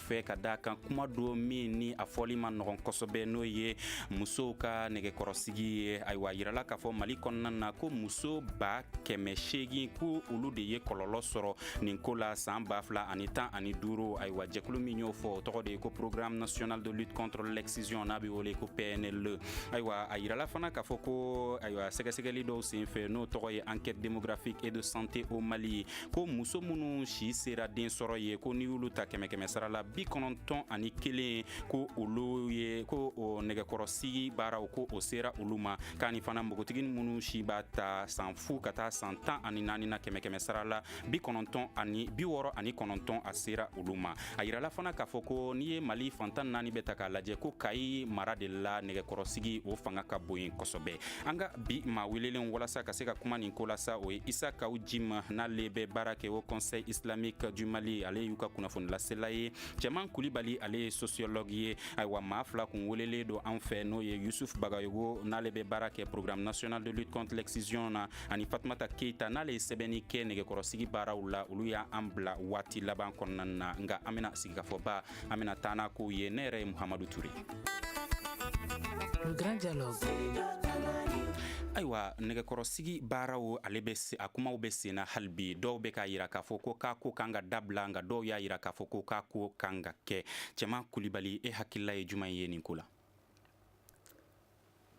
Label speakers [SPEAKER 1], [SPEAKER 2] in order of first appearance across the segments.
[SPEAKER 1] fɛ ka da kan kuma don min ni a fɔli man nɔgɔn kosɛbɛ n'o ye musow ka nɛgɛkɔrɔsigi ye ayiwa a yirala k'a fɔ mali kɔnɔna na ko muso ba kɛmɛ seegin ko olu de ye kɔlɔlɔ sɔrɔ nin ko la san ba fila ani tan ani duuru ayiwa jɛkulu min y'o fɔ o tɔgɔ de ye ko programme national de lutte contre l'excision n'a be wele ko pnle ayiwa a yirala fana k'a fɔ ko ayiwa sɛgɛsɛgɛli dɔw sen fɛ n'o tɔgɔ ye enquête démographique et de santé au mali ko muso minnu si sera den sɔrɔ ye ko n'i y'olu ta kɛmɛ kɛmɛ sara la bi kɔnɔntɔn ani kelen ko olu ye ko o nɛgɛkɔrɔsigi baaraw ko o sera olu ma k'ani fana npogotigi minnu si b'a ta san fu ka taa san tan ani naani na kɛmɛ kɛmɛ sara la bi kɔnɔntɔn ani bi wɔɔrɔ ani kɔnɔntɔn a sera olu ma a yirala fana k'a fɔ ko n'i ye mali fan tan naani bɛɛ ta k'a lajɛ ko kayi mara de la nɛgɛkɔrɔsigi o fanga ka bon yen kosɛbɛ an ka bi maa welelenw walasa ka se ka kuma nin ko la sa o ye isa kaw jim n'ale bɛ baara kɛ haut conseil islamique du mali ale y'u ka kunnafonilasela ye cɛman kulibali ale ye sociologue ye ayiwa maa fila kun welelen don an fɛ n'o ye yusuf bagayogo n'ale bɛ baara kɛ programme national de lutte contre l'excision na ani fatumata keita n'ale ye sɛbɛnni kɛ nɛgɛkɔrɔsigi baaraw la olu y'an bila waati laban kɔnɔna na nka an bena sigikafɔba an bena taa n'a kow ye ne yɛrɛ ye muhamadu ture
[SPEAKER 2] Le grand dialogue.
[SPEAKER 1] ayiwa nɛgɛkɔrɔsigi baaraw ale bɛ a kumaw bɛ senna hali bi dɔw bɛ k'a yira k'a fɔ ko k'a ko kan ka dabila nka dɔw y'a yira k'a fɔ ko k'a ko kan ka kɛ cɛman kulibali e hakilila ye juman ye nin ko la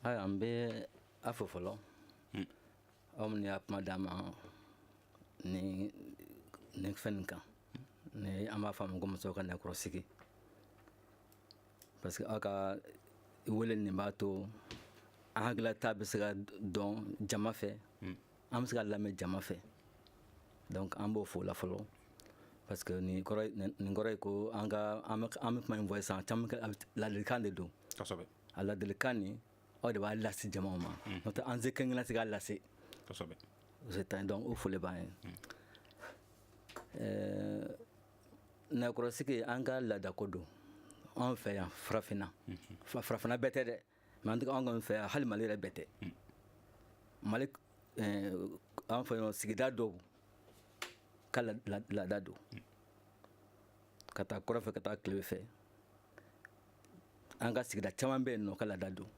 [SPEAKER 3] ayiwa an bɛ aw fo fɔlɔ hmm. aw minnu ye kuma d'an ma nin fɛn nin kan ni an b'a fɔ a ma ko musow ka nɛgɛkɔrɔsigi parce que aw ka wele nin b'a to an hakilata bɛ se ka dɔn jama fɛ hmm. an bɛ se ka lamɛn jama fɛ donc an b'aw fo o la fɔlɔ parce que nin kɔrɔ ye ko an ka an bɛ kuma min fɔ sisan jama ladilikan de don kosɛbɛ A ladilikan nin aw de b'a lase jamaw ma n'o tɛ an si tɛ se k'a lase donc o foli b'aw ye ɛɛ nɛgɛkɔrɔsigi an ka laadako don an fɛ yan farafinna farafinna bɛɛ tɛ dɛ mais an kɔni fɛ yan hali mali yɛrɛ bɛɛ tɛ mali an fɛ yan sigida dɔw ka laada don ka taa kɔrɔn fɛ ka taa tilebin fɛ an ka sigida caman bɛ yen n'u ka laada don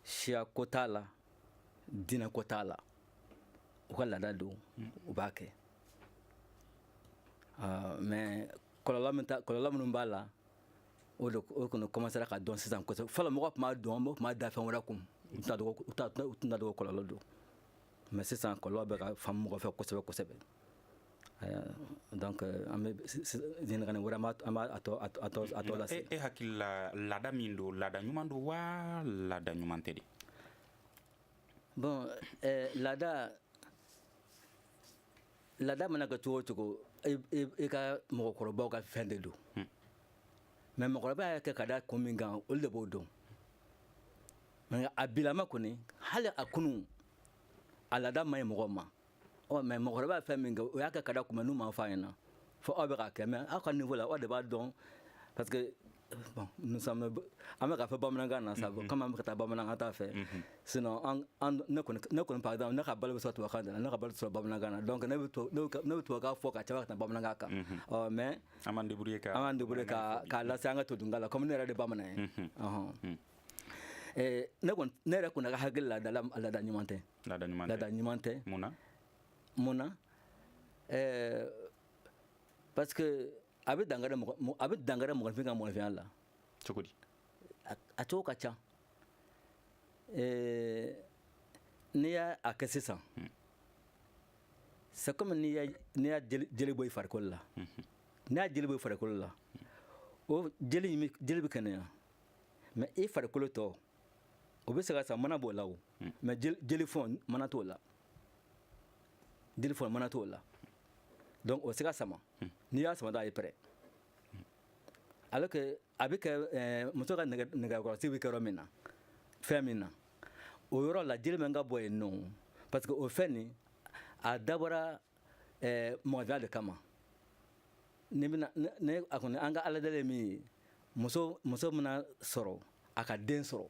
[SPEAKER 3] siya ko t'a la diinɛ ko t'a la u ka laada don u b'a kɛ mais kɔlɔlɔ minnu b'a la o de o kɔni kɔmansera ka dɔn sisan kosɛbɛ fɔlɔ mɔgɔ tun t'a dɔn mɔgɔ tun b'a da fɛn wɛrɛ kun u tun t'a dɔn ko kɔlɔlɔ don mais sisan kɔlɔlɔ bɛ ka faamu mɔgɔ fɛ kosɛbɛ kosɛbɛ donc an bɛ ɲininkali wɛrɛ tɔ lase e
[SPEAKER 1] hakili la laada min don laada ɲuman don waa laada ɲuman tɛ de
[SPEAKER 3] bon laada laada mana kɛ cogo o cogo i ka mɔgɔkɔrɔba ka fɛn de don mais mɔgɔkɔrɔba y'a kɛ ka da kun min kan olu de b'o dɔn a bilama kɔni hali a kunun a laada man ɲi mɔgɔ ma ɔ mais mɔgɔkɔrɔba ye fɛn min kɛ o y'a kɛ ka da kun min n'u m'a fɔ an ɲɛna fo aw bɛ k'a kɛ mais aw ka niveau la aw de b'a dɔn parce que bon nous sommes an bɛ k'a fɔ bamanankan na sa mhm. comme an bɛ ka taa bamanankan ta fɛ mhm. sinon ne kɔni ne kɔni par exemple ne ka balo bɛ sɔrɔ tubabukan de la ne ka balo tɛ sɔrɔ bamanankan na donc ne bɛ ne bɛ tubabukan fɔ ka caman ka tɛmɛ bamanankan kan mhm. ɔ mais an b'an débrouiller
[SPEAKER 1] ka an b'an débrouiller ka k'a
[SPEAKER 3] lase an ka todunkan la comme ne yɛrɛ de bamanan ye ɔhɔn ne kɔni ne yɛrɛ kɔni ka hakilila la laada ɲuman tɛ laada ɲuman tɛ laada ɲuman tɛ mun na mun na ɛɛ parce que a bɛ dankari mɔgɔ a bɛ dankari mɔgɔninfin ka mɔgɔninfinya la cogo di
[SPEAKER 1] a cogo
[SPEAKER 3] ka ca ɛɛ n'i y'a a kɛ sisan hmm. c'est comme n'i y'a n'i y'a jeli bɔ i farikolo la hmm. n'i y'a jeli bɔ i farikolo la hmm. o jeli in jeli bɛ kɛnɛya mais i farikolo tɔ o bɛ se ka sama mana b'o la o hmm. mais jeli fɔn mana t'o la jeli fɔn mana t'o la donc o tɛ se ka sama hmm. n'i y'a sama dɔrɔn a bɛ pɛrɛn hmm. alors que a bɛ kɛ eh, muso ka nɛgɛkɔrɔsigi bɛ kɛ yɔrɔ min na fɛn min na o yɔrɔ la jeli man kan ka bɔ yen non parce que o fɛn nin a dabɔra eh, mɔgɔdenya de kama ne bɛna ne a kɔni an ka aladeli ye min ye muso muso mana sɔrɔ a ka den sɔrɔ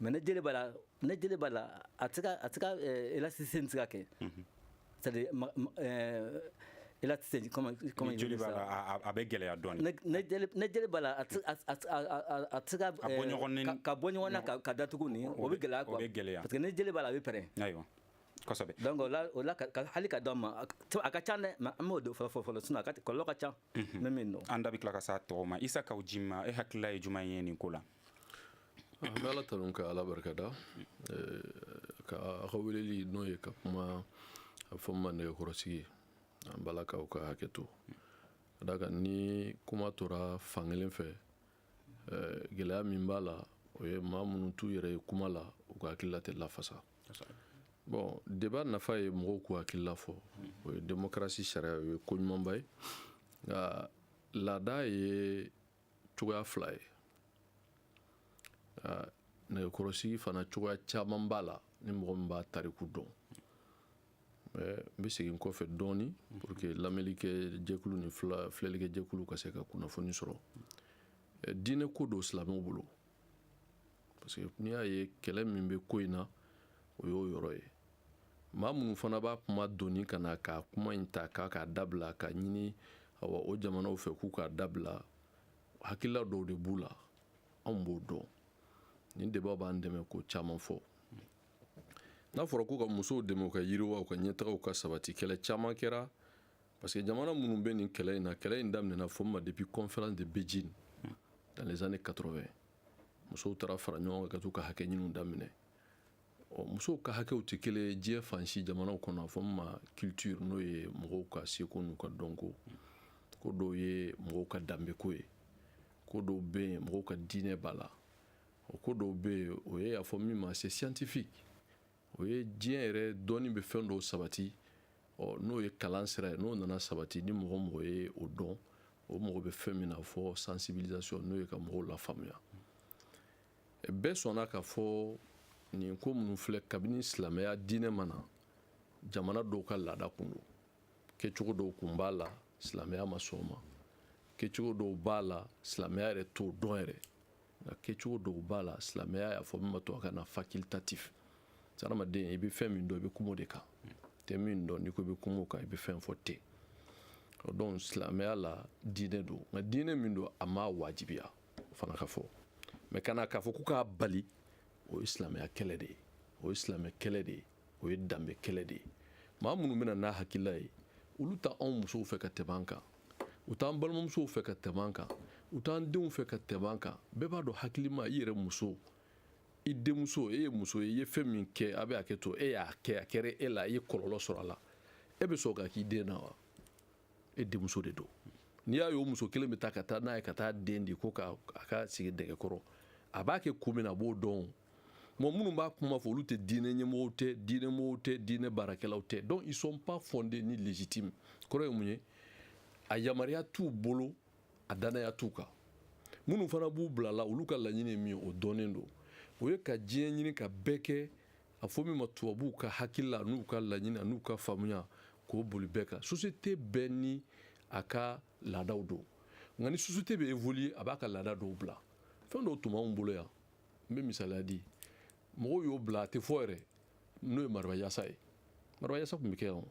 [SPEAKER 3] mais ni jeli b'a la ni jeli b'a la a tɛ a tɛ se ka élasticité tɛ se ka kɛ c'est-à-dire élasticité comme jeli b'a
[SPEAKER 1] la a bɛ gɛlɛya donc ni jeli b'a
[SPEAKER 3] la a a tɛ se ka bɔ ɲɔgɔn ka bɔ ɲɔgɔn na ka datugu nin o bɛ gɛlɛya bɛ gɛlɛya parce que ni jeli b'a la a bɛ pɛrɛn
[SPEAKER 1] ayiwa kosɛbɛ donc o la
[SPEAKER 3] hali ka dɔn ma a ka ca dɛ mais an m'o dɔn fɔlɔ fɔlɔ sinon a kɔlɔlɔ ka ca Mhm. ne min dɔn an da bɛ tila ka s'a tɔ
[SPEAKER 1] ma isa kawu jim e hakilila ye jumɛn ye nin ko la an bɛ
[SPEAKER 4] ala tanu ka ala barikada eh, ka a ka weleli n'o ye ka kuma a fɔ ma nɛgɛkɔrɔsigi an b'a la k'aw ka hakɛ to ka d'a kan ni kuma tora fankelen fɛ gɛlɛya min b'a la o ye maa minnu t'u yɛrɛ ye kuma la u ka hakilila tɛ lafasa bon débat nafa ye mɔgɔw k'u hakilila fɔ o ye démocratie sariya o ye ko ɲumanba ye nka laada ye cogoya fila ye nɛgɛkɔrɔsigi fana cogoya caman b'a la ni mɔgɔ min b'a tariku dɔn n bɛ segin kɔfɛ dɔɔni pour que lamɛnlikɛ jɛkulu ni filɛlikɛ jɛkulu ka se ka kunnafoni sɔrɔ diinɛ ko don silamɛw bolo parce que n'i y'a ye kɛlɛ min bɛ ko in na o y'o yɔrɔ ye maa minnu fana b'a kuma doni ka na k'a kuma in ta k'a k'a dabila k'a ɲini awa o jamanaw fɛ k'u k'a dabila hakilila dɔw de b'u la anw b'o dɔn nin débat b'an dɛmɛ ko caman fɔ n'a fɔra ko ka musow dɛmɛ u ka yiriwa u ka ɲɛtaga u ka sabati kɛlɛ caman kɛra parce que jamana minnu bɛ nin kɛlɛ in na kɛlɛ in daminɛna fo ma depuis conférence de Beijing dans les années 80 musow taara fara ɲɔgɔn kan ka t'u ka hakɛ ɲiniw daminɛ ɔ musow ka hakɛw tɛ kelen ye diɲɛ fan si jamanaw kɔnɔ a fɔ min ma culture n'o ye mɔgɔw ka seko n'u ka dɔnko ko dɔw ye mɔgɔw ka danbeko ye ko dɔw bɛ yen mɔgɔw ka diinɛ b'a la o ko dɔw bɛ yen o ye a fɔ min ma c'est scientifique o ye diɲɛ yɛrɛ dɔnni bɛ fɛn dɔw sabati ɔ n'o ye kalan sira ye n'o nana sabati ni mɔgɔ mɔgɔ ye o dɔn o mɔgɔ bɛ fɛn min na a fɔ sensibilisation n'o ye ka mɔgɔw lafaamuya bɛɛ sɔnna k'a fɔ nin ko minnu filɛ kabini silamɛya diinɛ ma na jamana dɔw ka laada kun don kɛcogo dɔw kun b'a la silamɛya ma sɔn o ma kɛcogo dɔw b'a la silamɛya yɛrɛ t'o dɔn yɛrɛ nka kɛcogo dɔw b'a la silamɛya y'a fɔ min ma tubabukan na facultatif hadamaden i bɛ fɛn min dɔn i bɛ kuma o de kan i tɛ min dɔn n'i ko i bɛ kuma o kan i bɛ fɛn fɔ ten donc silamɛya la diinɛ don nka diinɛ min don a ma wajibiya o fana ka fɔ mais ka na k'a fɔ ko k'a bali o ye silamɛya kɛlɛ de ye o ye silamɛ kɛlɛ de ye o ye danbe kɛlɛ de ye maa minnu bɛ na n'a hakilila ye olu t'anw musow fɛ ka tɛmɛ an kan u t'an balimamusow fɛ ka tɛmɛ an kan u t'an denw fɛ ka tɛmɛ an kan bɛɛ b'a dɔn hakilima i yɛrɛ muso i denmuso e ye muso ye i ye fɛn min kɛ a bɛ hakɛ to e y'a kɛ a kɛra e la i ye kɔlɔlɔ sɔrɔ a la e bɛ sɔn k'a k'i den na wa e denmuso de don n'i y'a ye o muso kelen bɛ taa ka taa n'a ye ka taa den di ko ka a ka sigi nɛgɛ kɔrɔ a b'a kɛ kun min na a b'o dɔn Bon minnu b'a kuma fɔ olu tɛ diinɛ ɲɛmɔgɔw tɛ diinɛ mɔgɔw tɛ diinɛ baarakɛlaw tɛ donc ils sont pas fondés ni légitimes kɔrɔ ye mun ye a yamaruya t'u bolo a danaya t'u kan minnu fana b'u bila a la olu ka laɲini ye min ye o dɔnnen don o ye ka diɲɛ ɲini ka bɛɛ kɛ a fɔ min ma tubabuw ka hakilila n'u ka laɲini n'u ka faamuya k'o boli bɛɛ kan société bɛɛ ni a ka laadaw don nka ni société bɛ évoluer a b'a ka laada dɔw bila fɛn dɔw tun b'anw bolo yan n bɛ misaliya di mɔgɔw y'o bila a tɛ fɔ yɛrɛ n'o ye mariba yasa ye mariba yasa tun bɛ kɛ yan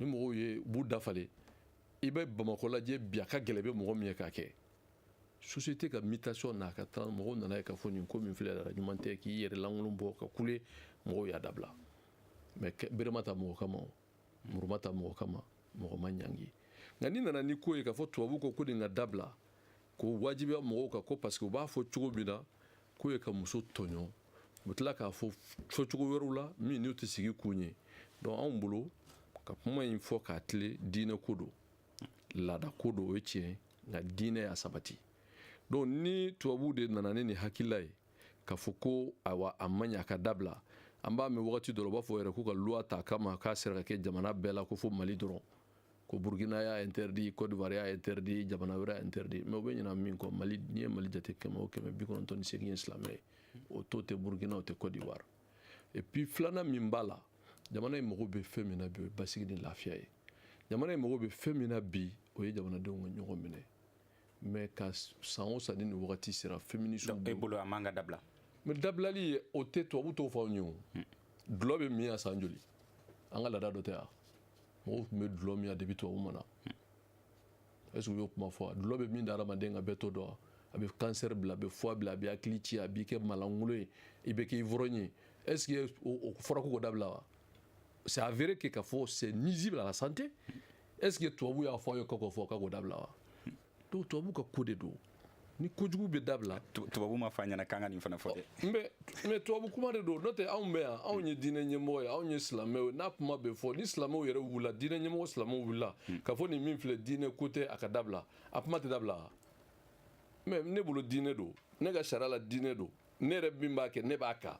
[SPEAKER 4] ni mɔgɔw ye b'u dafalen i bɛ bamakɔ lajɛ bi a ka gɛlɛn i bɛ mɔgɔ min ye k'a kɛ société ka mutation n'a ka taa mɔgɔw nana ye k'a fɔ nin ko min filɛ la ɲuman tɛ k'i yɛrɛ lankolon bɔ ka kule mɔgɔw y'a dabila mais bere ma ta mɔgɔ kama muru ma ta mɔgɔ kama mɔgɔ ma ɲangi nka n'i nana ni ko ye k'a fɔ tubabu ko ko nin ka dabila k'o wajibiya mɔgɔw kan ko parce que u b'a fɔ cogo min na k'o ye ka muso tɔɲɔ u bɛ tila k'a fɔ fɔcogo wɛrɛw la minnu tɛ sigi kun ye donc anw bolo ka kuma in fɔ k'a tilen diinɛ ko don laada ko don o ye tiɲɛ nka diinɛ y'a sabati donc ni tubabuw de nana ni nin hakilila ye k'a fɔ ko ayiwa a man ɲi a ka dabila an b'a mɛn wagati dɔ la u b'a fɔ yɛrɛ k'u ka loi ta a kama k'a sera ka kɛ jamana bɛɛ la ko fo mali dɔrɔn ko burkina y'a interdit côte d'ivoire y'a interdit jamana wɛrɛ y'a interdit mais u bɛ ɲina min kɔ mali n'i ye mali jate kɛmɛ o kɛmɛ bi kɔnɔntɔn ni seegin ye silamɛ ye o to tɛ burkina o tɛ côte d'ivoire et puis filanan min b'a la jamana in mago bɛ fɛn min na bi o ye basigi ni lafiya ye jamana in mago bɛ fɛn min na bi o ye jamanadenw ka ɲɔgɔn minɛ mais ka san o san ni nin wagati sera féminisme donc e bolo a man ka
[SPEAKER 1] dabila mais dabilali
[SPEAKER 4] o tɛ tubabu t'o fɔ anw ye o dulɔ bɛ min yan san joli an ka laada dɔ tɛ yan mɔgɔw tun bɛ dulɔ min yan depuis tubabu ma na est ce que u y'o kuma fɔ dulɔ bɛ min da hadamaden kan bɛɛ t'o dɔn a bɛ cancer bila a bɛ foie bila a bɛ hakili ci a b'i kɛ malangolo ye i bɛ kɛ ivrogne ye est ce que o fɔra ko k'o dabila wa c'est avéré que k'a fɔ c'est nuisible à la santé est ce que tubabu y'a fɔ aw ye k'o fɔ k'o dabila wa donc tubabu ka ko de don ni kojugu bɛ dabila tubabu m'a fɔ an
[SPEAKER 1] ɲɛna k'an ka nin fana fɔ dɛ mais mais tubabu kuma
[SPEAKER 4] de don n'o tɛ anw bɛ yan anw ye diinɛ ɲɛmɔgɔ ye anw ye silamɛw ye n'a kuma bɛ fɔ ni silamɛw yɛrɛ wulila diinɛ ɲɛmɔgɔ silamɛw wulila hmm. k'a fɔ nin min filɛ diinɛ ko tɛ a ka dabila a kuma tɛ dabila mais ne bolo diinɛ don ne ka sariya la diinɛ don ne yɛrɛ min b'a kɛ ne b'a kan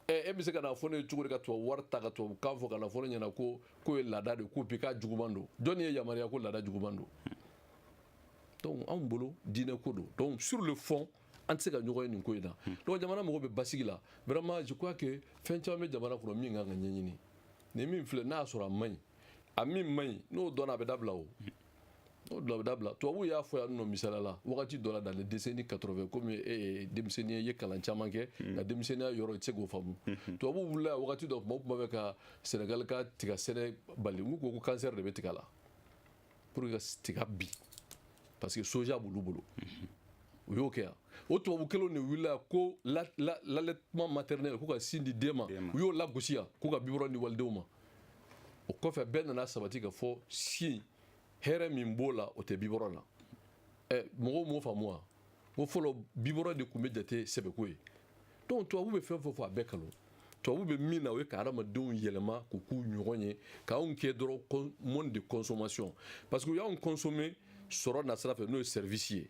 [SPEAKER 4] e bɛ se ka n'a fɔ ne ye cogo di ka tubabu wari ta ka tubabu kan fɔ ka n'a fɔ ne ɲɛna ko k'o ye laada de ko bi k'a juguman don jɔnni y'e yamaruya ko laada juguman don donc anw bolo diinɛ ko don donc sur le fond an tɛ se ka ɲɔgɔn ye nin ko in na donc jamana mago bɛ basigi la vraiment je crois que fɛn caman bɛ jamana kɔnɔ min kan ka ɲɛɲini nin min filɛ n'a y'a sɔrɔ a man ɲi a min man ɲi n'o dɔnna a bɛ dabila o o bɛ dabila tubabuw y'a fɔ yan nɔ misaliya la wagati dɔ la dans les décennies 80 komi e ye denmisɛnnin ye i ye kalan caman kɛ hmm. nka denmisɛnninya yɔrɔ i tɛ se k'o faamu hmm. tubabuw wulila wagati dɔ tuma o tuma bɛ ka sénégal ka tiga sɛnɛ bali u ko ko cancer de bɛ tiga la pour que ka tiga bin parce que soja b'olu bolo hmm. u y'o kɛ yan o tubabu kelenw de wulila ko l'allaitement maternel ko ka sin di den ma u y'o lagosi yan ko ka biberon di walidenw ma o kɔfɛ bɛɛ nana sabati ka fɔ sin hɛrɛ min b'o la o tɛ biberon na ɛ mɔgɔw m'o faamu wa ko fɔlɔ biberon de tun bɛ jate sɛbɛko ye donc tubabu bɛ fɛn o fɛn fɔ a bɛɛ kalon tubabu bɛ min na o ye ka hadamadenw yɛlɛma k'u k'u ɲɔgɔn ye k'anw kɛ dɔrɔn monde de consommation parce que u y'anw consommer sɔrɔ nasira fɛ n'o ye service ye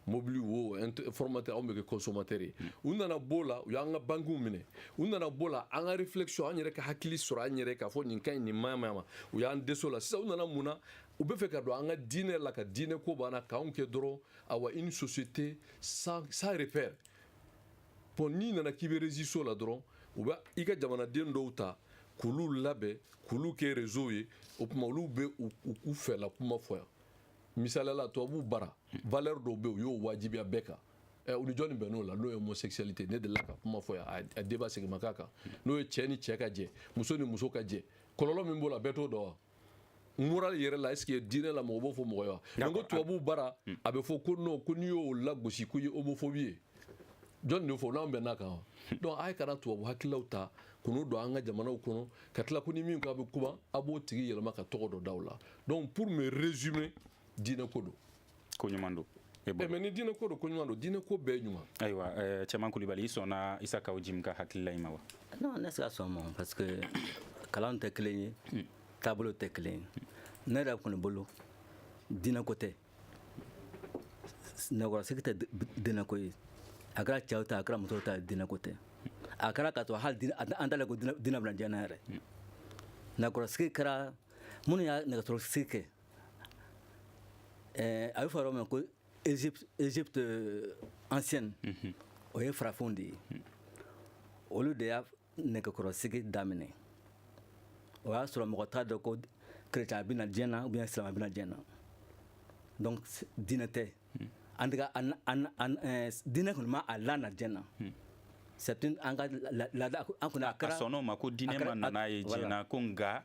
[SPEAKER 4] mobili wo informateur anw bɛ kɛ consommateur ye u nana b'o la u y'an ka bankiw minɛ u nana b'o la an ka réflexion an yɛrɛ ka hakili sɔrɔ an yɛrɛ k'a fɔ nin ka ɲi nin man ɲi u y'an dɛsɛ o la sisan u nana mun na u bɛ fɛ ka don an ka diinɛ la ka diinɛ ko b'an na k'anw kɛ dɔrɔn awa une société sans sans repère bon n'i nana k'i bɛ résister o la dɔrɔn u bɛ i ka jamanaden dɔw ta k'olu labɛn k'olu kɛ réseau ye o tuma olu bɛ u fɛla kuma fɔ yan misaliya la tubabuw bara valeur dɔw bɛ yen u y'o wajibiya bɛɛ kan eh, u ni jɔni bɛnn'o la n'o ye homosexualité ne delila ka kuma fɔ yan a débat segin ma k'a kan n'o ye cɛ ni cɛ ka jɛ muso ni muso ka jɛ kɔlɔlɔ min b'o la bɛɛ t'o dɔn wa moral yɛrɛ la est-ce que diinɛ la mɔgɔ b'o fɔ mɔgɔ ye wa mais ko tubabuw bara hmm. a bɛ fɔ ko non ko n'i y'o lagosi ko i ye homophobie ye jɔni de fɔ n'an bɛnn'a kan wa hmm. donc a ye kana tubabu hakililaw ta k'olu don an ka jamanaw kɔnɔ ka tila ko ni min ko a bɛ kuma a b'o tigi yɛlɛma ka tɔgɔ dɔ da o la donc pour me résumer diinɛ ko don ko
[SPEAKER 1] ɲuman don eh, eh, mais ni diinɛ
[SPEAKER 4] ko don ko ɲuman don diinɛ ko bɛɛ ɲuman ayiwa eh,
[SPEAKER 1] cɛman kulibali i sɔnna isa kaw jim ka hakilila in ma wa non ne se ka sɔn
[SPEAKER 3] ma parce que kalan tɛ kelen ye hmm. taabolo tɛ kelen ye ne yɛrɛ kɔni bolo diinɛ ko tɛ nɛgɛkɔrɔsigi tɛ diinɛ ko ye a kɛra cɛw ta a kɛra musow ta diinɛ ko tɛ a kɛra k'a to hali an t'a dɔn ko diinɛ bɛna diɲɛ na yɛrɛ hmm. nɛgɛkɔrɔsigi kɛra minnu y'a nɛgɛkɔrɔsigi kɛ eh, a bɛ fɔ yɔrɔ min ko Égypte, Égypte euh, ancienne mm -hmm. o ye farafinw de ye mm. olu de y'a nɛgɛkɔrɔsigi daminɛ o y'a sɔrɔ mɔgɔ t'a dɔn ko kerecɛn a bɛna diɲɛ na ou bien silama bɛna diɲɛ na donc diinɛ tɛ mm. en tout cas eh, diinɛ kɔni ma a lana diɲɛ na mm. c'est une an ka laada an kɔni a kɛra a sɔnn'o ma ko diinɛ ma
[SPEAKER 1] na n'a ye diɲɛ na ko nka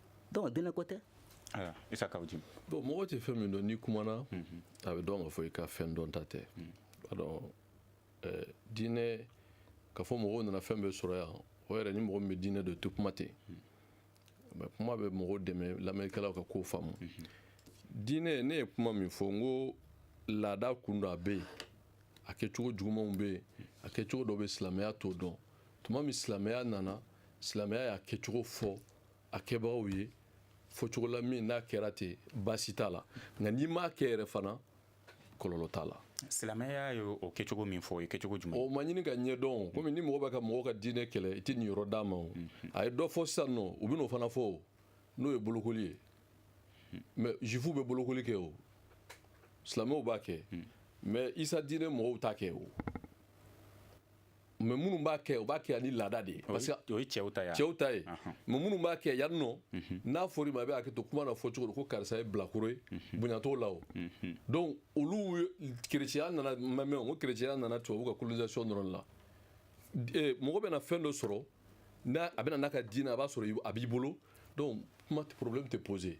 [SPEAKER 3] donc diinɛ ko tɛ isa
[SPEAKER 1] kaw jim bon mɔgɔ tɛ fɛn
[SPEAKER 4] min dɔn n'i kumana mhm. a bɛ dɔn ka fɔ i ka fɛn dɔnta tɛ mhm. alors eh, diinɛ ka fɔ mɔgɔw nana fɛn bɛɛ sɔrɔ yan o yɛrɛ ni mɔgɔ min bɛ diinɛ dɔn tɛ kuma ten mhm. kuma bɛ mɔgɔw dɛmɛ lamɛnnikɛlaw ka kow faamu diinɛ ne ye kuma min fɔ n ko laada kun don a bɛ yen a kɛcogo jugumanw bɛ yen a kɛcogo dɔ bɛ silamɛya t'o dɔn tuma min silamɛya nana silamɛya y'a kɛcogo fɔ a kɛbagaw ye fɔcogo la min n'a kɛra ten baasi t'a la nka n'i m'a kɛ yɛrɛ fana kɔlɔlɔ t'a la silamɛya ye
[SPEAKER 1] o kɛcogo min fɔ o ye kɛcogo jumɛn o ma ɲini k'a ɲɛdɔn
[SPEAKER 4] komi ni mɔgɔ bɛ ka mɔgɔ ka diinɛ kɛlɛ i tɛ nin yɔrɔ d'a ma o mhm. a ye dɔ fɔ sisan nɔ u bɛn'o fana fɔ o n'o ye bolokoli ye mhm. mais jufu bɛ bolokoli kɛ o silamɛw b'a kɛ mhm. mais isa diinɛ mɔgɔw t'a kɛ o mais minnu b'a kɛ u b'a kɛ ani laada de ye parce que o ye cɛw ta ye cɛw ta
[SPEAKER 1] ye
[SPEAKER 4] mais minnu b'a kɛ yan nɔ mhm. n'a fɔra i ma a bɛ hakɛ to kuma na fɔcogo don ko karisa ye bilakoro ye mhm. bonya t'o la o mhm. donc olu kerecɛya nana ma mɛn o ko kerecɛya nana tubabu ka colonisation dɔrɔn la eh, mɔgɔ bɛna fɛn dɔ sɔrɔ n'a a bɛna n'a ka diinɛ a b'a sɔrɔ a b'i bolo donc kuma problème tɛ poser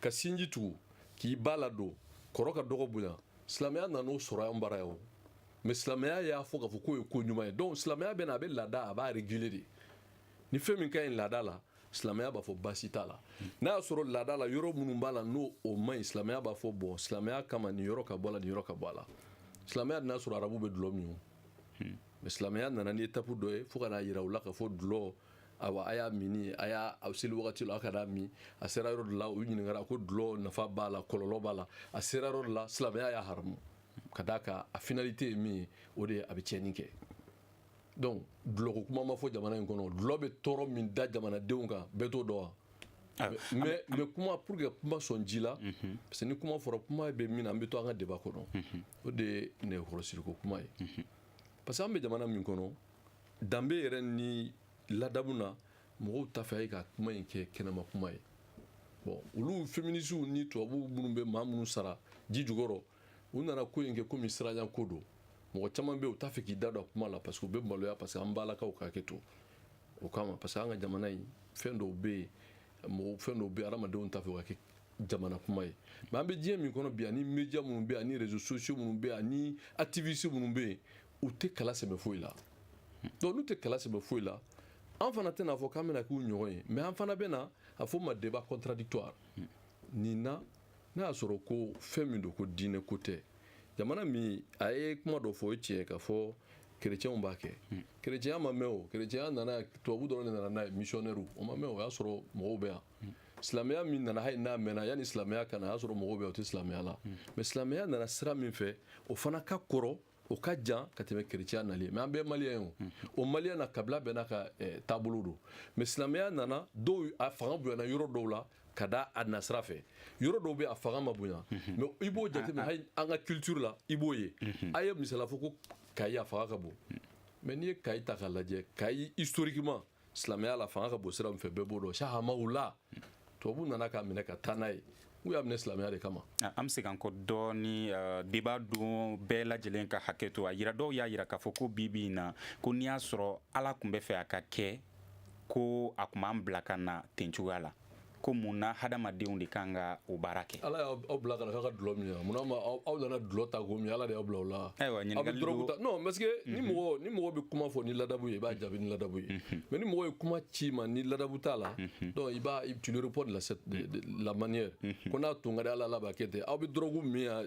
[SPEAKER 4] ka sinji tugu k'i ba ladon kɔrɔ ka dɔgɔ bonya silamɛya nan'o sɔrɔ an bara yan o mais silamɛya y'a fɔ k'a fɔ k'o ye ko ɲuman ye donc silamɛya bɛna a bɛ laada a b'a réguler de ni fɛn min ka ɲi laada la silamɛya b'a fɔ baasi t'a la n'a y'a sɔrɔ laada la yɔrɔ minnu b'a la n'o o man ɲi silamɛya b'a fɔ bon silamɛya kama nin yɔrɔ ka bɔ a la nin yɔrɔ ka bɔ a la silamɛya n'a sɔrɔ arabu bɛ dulɔ min o hmm. mais silamɛya nana ni étape dɔ ye fo ka n'a yira u la k'a fɔ dulɔ awa a y'a min a y'a a seli wagati la a kan'a min a sera yɔrɔ dɔ la u ɲininkara ko dulɔ nafa b'a la kɔlɔlɔ b'a la a sera yɔrɔ dɔ la silamɛya y'a haramu ka d'a kan a finalité ye min ye o de ye a bɛ tiɲɛni kɛ donc dulɔko kuma ma fɔ jamana in kɔnɔ dulɔ bɛ tɔɔrɔ min da jamanadenw kan bɛɛ t'o dɔn wa ah, mais ah, mais kuma pour que kuma sɔn ji la mhm. parce que ni kuma fɔra kuma bɛ min na an bɛ to an ka débat kɔnɔ mhm. o de ye nɛgɛkɔrɔsigiko kuma ye mhm. parce que an bɛ jamana min kɔnɔ danbe yɛrɛ ni ladamu na mɔgɔw t'a fɛ a ye ka kuma in kɛ kɛnɛma kuma ye bon olu féministes ni tubabuw minnu bɛ maa minnu sara ji jukɔrɔ u nana ko in kɛ komi siranɲɛ ko don mɔgɔ caman bɛ u t'a fɛ k'i da don a kuma la parce que u bɛ maloya parce que an balakaw ka hakɛ to o kama parce que an ka jamana in fɛn dɔw bɛ yen mɔgɔ fɛn dɔw bɛ yen adamadenw t'a fɛ o ka kɛ jama na kuma ye mais an bɛ diɲɛ min kɔnɔ bi ani média minnu bɛ ani réseaux sociaux minnu bɛ ani activistes minnu bɛ yen u tɛ kala sɛbɛ foyi la donc n'u tɛ kala sɛbɛ foyi la an fana tɛna fɔ k'an bɛna k'u ɲɔgɔn ye mais an fana bɛna a fɔ ma débat contradictoire nin na n'a y'a sɔrɔ ko fɛn min don ko diinɛ ko tɛ jamana min a ye kuma dɔ fɔ o ye tiɲɛ k'a fɔ kerecɛnw b'a kɛ hmm. kerecɛnya ma mɛn o kerecɛnya nana tubabu dɔrɔn de nana n'a ye misiyɔnɛriw o ma mɛn o y'a sɔrɔ mɔgɔw bɛ yan hmm. silamɛya min nana hali n'a mɛnna yanni silamɛya ka na a y'a sɔrɔ mɔgɔw bɛ yan o tɛ silamɛya la hmm. mais silamɛya nana sira min fɛ o fana ka kɔrɔ o ka jan ka tɛmɛ kerecɛya nali ye mais an bɛɛ ye maliyɛn ye o o maliya na kabila bɛɛ n'a ka eh, taabolo don mais silamɛya nana dɔw a fanga bonyana yɔrɔ dɔw la ka da a nasira fɛ yɔrɔ dɔw bɛ a fanga ma bonya mhm. mais i b'o jateminɛ ah, ah. hali an ka culture la i b'o ye mhm. a ye misala fɔ ko kayi a fanga ka bon mais n'i ye kayi ta k'a lajɛ kayi historiquement silamɛya la fanga ka bon sira min fɛ bɛɛ b'o dɔn cheikh hamala tubabu nana k'a minɛ ka taa n'a ye u y'a minɛ silamɛya de kama ah, an bɛ segin an kɔ
[SPEAKER 1] dɔɔni ah, débat don bɛɛ lajɛlen ka hakɛ to a yira dɔw y'a yira k'a fɔ ko bi bi in na ko n'i y'a sɔrɔ ala tun b'a fɛ a ka kɛ ko a tun b'an bila ka na ten cogoya la ko mun na hadamadenw de kan ka o baara kɛ ala y'aw bila ka na k'a
[SPEAKER 4] ka dulɔ min mun na aw nana dulɔ ta k'o min ala de y'aw bila o la ayiwa ɲininkali don
[SPEAKER 1] non parce que
[SPEAKER 4] ni mhm. mɔgɔ ni mɔgɔ bɛ kuma fɔ ni ladabu ye i b'a jaabi ni ladabu ye mhm. mais ni mɔgɔ ye kuma ci i ma ni ladabu t'a la mhm. donc i b'a tu le réponds de la manière ko n'a tun ka di ala ala b'a kɛ ten aw bɛ dɔrɔgu min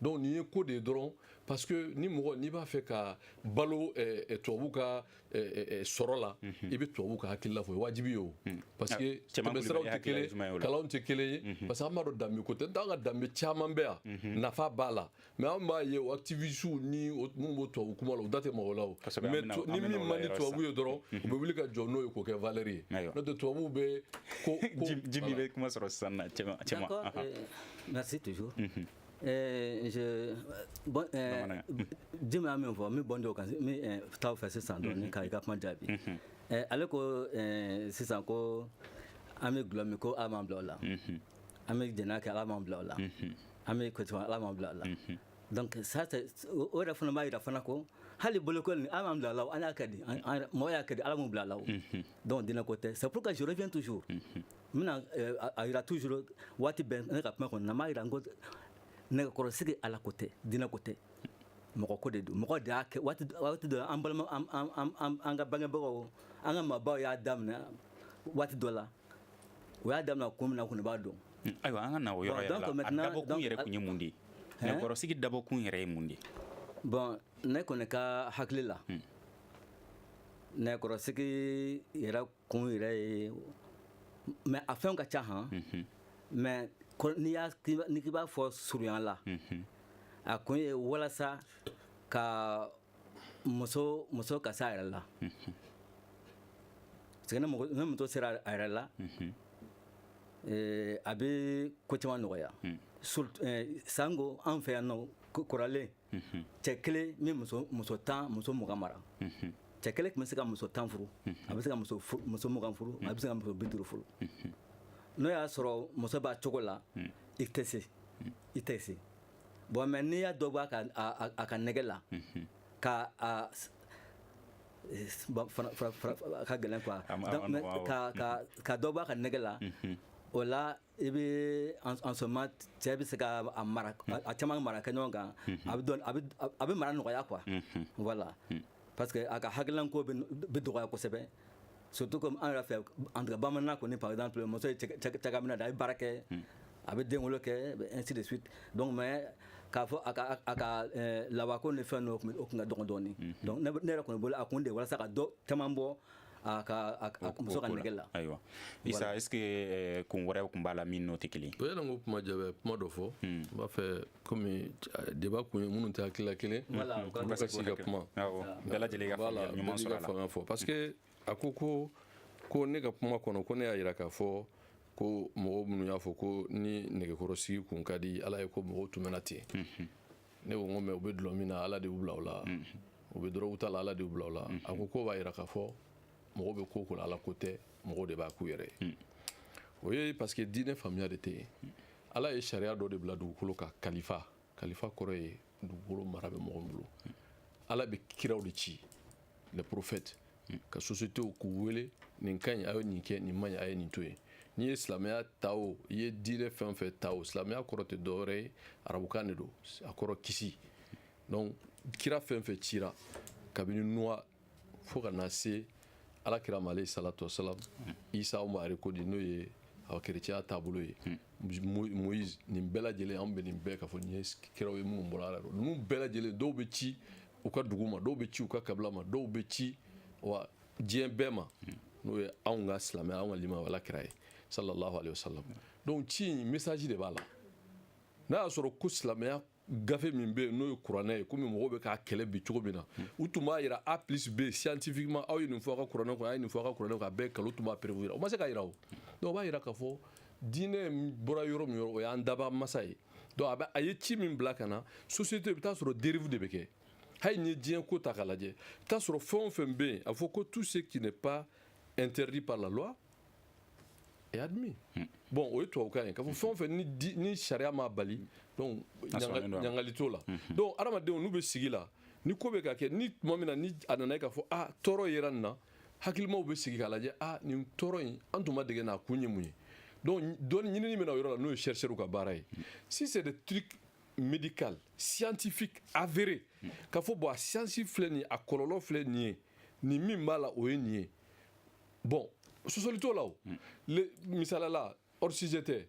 [SPEAKER 4] donc nin ye ko de ye dɔrɔn parce que ni mɔgɔ n'i b'a fɛ ka balo eh, eh, tubabu ka eh, sɔrɔ la mhm. i bɛ tubabu ka hakilila fɔ wajibi ye o mhm. parce que ah, tɛmɛsiraw tɛ kelen ye kalanw tɛ kelen ye mhm. parce que an b'a dɔn danbe ko tɛ n'o tɛ an ka danbe caman bɛ yan nafa b'a la mais an b'a ye o activistes ni minnu b'o tubabu kuma la u da tɛ mɔgɔ la o mais ni min man di tubabu ye dɔrɔn u bɛ wuli ka jɔ n'o ye k'o kɛ valeur ye n'o tɛ tubabuw bɛ ko jimi bɛ kuma
[SPEAKER 1] sɔrɔ sisan na cɛma cɛma
[SPEAKER 3] merci toujours jimi a min fɔ n bɛ bɔ dɔw kan n bɛ taa o fɛ sisan dɔɔni ka i ka kuma jaabi ale ko sisan ko an bɛ dulɔ min ko ala m'an bila o la an bɛ jɛnɛya kɛ ala m'an bila o la an bɛ ko ala m'an bila o la donc ça o yɛrɛ fana b'a jira fana ko hali bolokoli ni ala m'an bila o la an y'a kɛ de mɔgɔ y'a kɛ de ala m'u bila o la donc dinɛ ko tɛ c'est pourquoi je reviens toujours n bɛna eh, a jira toujours waati bɛɛ ne ka kuma kɔnɔ na n b'a jira n ko nɛgɛkɔrɔsigi ala ko tɛ dinɛ ko tɛ mɔgɔ ko de don mɔgɔ de y'a kɛ waati dɔ an balima an ka bangebagaw an ka maabaw y'a daminɛ waati dɔ la o y'a daminɛ kun min na kɔni b'a dɔn hmm, ayiwa an ka na
[SPEAKER 1] o yɔrɔ yɛrɛ la a dabɔkun yɛrɛ kun ye mun de ye nɛgɛkɔrɔsigi dabɔkun yɛrɛ ye mun de ye bon
[SPEAKER 3] ne kɔni ka hakili la hmm. nɛgɛkɔrɔsigi yɛrɛ kun yɛrɛ ye mais a fɛn ka ca han mais n'i k'i b'a fɔ surunya la a kun ye walasa ka muso muso ka se a yɛrɛ la parce que ni muso sera a yɛrɛ la a bɛ ko caman nɔgɔya sanko an fɛ yan nɔ kɔrɔlen cɛ kelen bɛ muso tan muso mugan mara cɛ kelen tun bɛ se ka muso tan furu a bɛ se ka muso mugan furu a bɛ se ka muso bi duuru furu n'o y'a sɔrɔ muso b'a cogo la i tɛ se i tɛ se bon mais n'i y'a dɔ bɔ a ka nege la ka a ka gɛlɛn quoi ka dɔ bɔ a ka nege la o la i bɛ en ce moment cɛ bɛ se ka a mara a caman mara kɛ ɲɔgɔn kan a bɛ dɔn a bɛ mara nɔgɔya quoi voilà parce que a ka hakilanko bɛ dɔgɔya kosɛbɛ surtout comme an yɛrɛ fɛ en tout cas bamanan kɔni par exemple muso ye cakɛminan de a bɛ baara kɛ a bɛ den wolo kɛ ainsi de suite donc mais k'a fɔ a ka a ka lawako ni fɛn ninnu o tun ka dɔgɔn dɔɔnin donc ne yɛrɛ kɔni bolo a kun de walasa ka dɔ caman bɔ a ka a ka muso ka nege la ayiwa
[SPEAKER 1] isa est ce que eh, kun wɛrɛ tun b'a la min n'o tɛ kelen ye o yani n k'o kuma jaabi
[SPEAKER 4] kuma dɔ fɔ hmm. n b'a fɛ komi eh, débat kun ye minnu tɛ hakilila kelen u ka se ka kuma bɛɛ lajɛlen
[SPEAKER 1] ka faamuya ɲuman sɔrɔ a la faamuya fɔ parce que
[SPEAKER 4] a ko ko ko ne ka kuma kɔnɔ ko ne y'a jira k'a fɔ ko mɔgɔw minnu y'a fɔ ko ni nɛgɛkɔrɔsigi tun ka di ala ye ko mɔgɔw tun bɛ na ten ne ko n ko mais u bɛ dulɔ min na ala de y'u bila o la mm. u bɛ dɔrɔgu ta la ala de y'u bila o la mm. a ko k'o b'a yira k'a fɔ mɔgɔ bɛ ko ko la ala ko tɛ mɔgɔw de b'a k'u yɛrɛ ye mm. o ye parce que diinɛ faamuya de tɛ yen ala ye sariya dɔ de bila dugukolo kan kalifa kalifa kɔrɔ ye dugukolo mara bɛ mɔgɔ min bolo ala bɛ kiraw de ci les prophètes ka société k'u wele nin ka ɲi a ye nin kɛ nin man ɲi a ye nin to yen n'i ye silamɛya ta o i ye diinɛ fɛn o fɛn ta o silamɛya kɔrɔ tɛ dɔwɛrɛ ye arabukan de don a kɔrɔ kisi donc kira fɛn o fɛn cira kabini nuwa fo ka na se ala kira ma alayhi salatu wasalam isa mari ko di n'o ye aw kerecɛnya taabolo ye moïse nin bɛɛ lajɛlen anw bɛ nin bɛɛ k'a fɔ nin ye kiraw ye minnu bɔra ala la ninnu bɛɛ lajɛlen dɔw bɛ ci u ka dugu ma dɔw bɛ ci u ka kabila ma dɔw bɛ ci wa diɲɛ bɛɛ ma n'o ye anw ka silamɛya anw ka limaniya ala kira ye sallallahu alayhi wa sallam donc ci in message de b'a la n'a y'a sɔrɔ ko silamɛya gafe min bɛ yen n'o ye kuranɛ ye komi mɔgɔw bɛ k'a kɛlɛ bi cogo min na u tun b'a jira a plus b scientifiquement aw ye nin fɔ a ka kuranɛ kɔnɔ a ye nin fɔ a ka kuranɛ kɔnɔ a bɛɛ nkalon u tun b'a preuve jira u ma se k'a jira o donc o b'a jira k'a fɔ diinɛ bɔra yɔrɔ min yɔrɔ o y'an dabaa masa ye donc a bɛ a ye ci min bila ka na société i bɛ taa sɔrɔ dérive de bɛ kɛ hali n'i ye diɲɛ ko ta k'a lajɛ i bɛ taa sɔrɔ fɛn o fɛn bɛ yen a fɔ ko tout ce qui n'est pas interdit par la loi est admis hmm. bon o ye tubabukan ye k'a fɔ fɛn o fɛn ni di ni sariya m'a bali donc ɲangali t'o la hmm. donc hadamadenw n'u bɛ sigi la ni ko bɛ ka kɛ ni tuma min na ni a nana ye k'a fɔ ah tɔɔrɔ yera nin na hakilimaw bɛ sigi k'a lajɛ a nin tɔɔrɔ in an tun ma dege n'a kun ye mun ye donc dɔnni ɲinini bɛ na o yɔrɔ la n'o ye chercheurs ka baara ye si c'est des trucs médical scientifique avéré k'a fɔ bon a siyansi filɛ nin ye a kɔlɔlɔ filɛ nin ye nin min b'a la o ye nin ye bon sɔsɔli t'o la o misala la hors sujet tɛ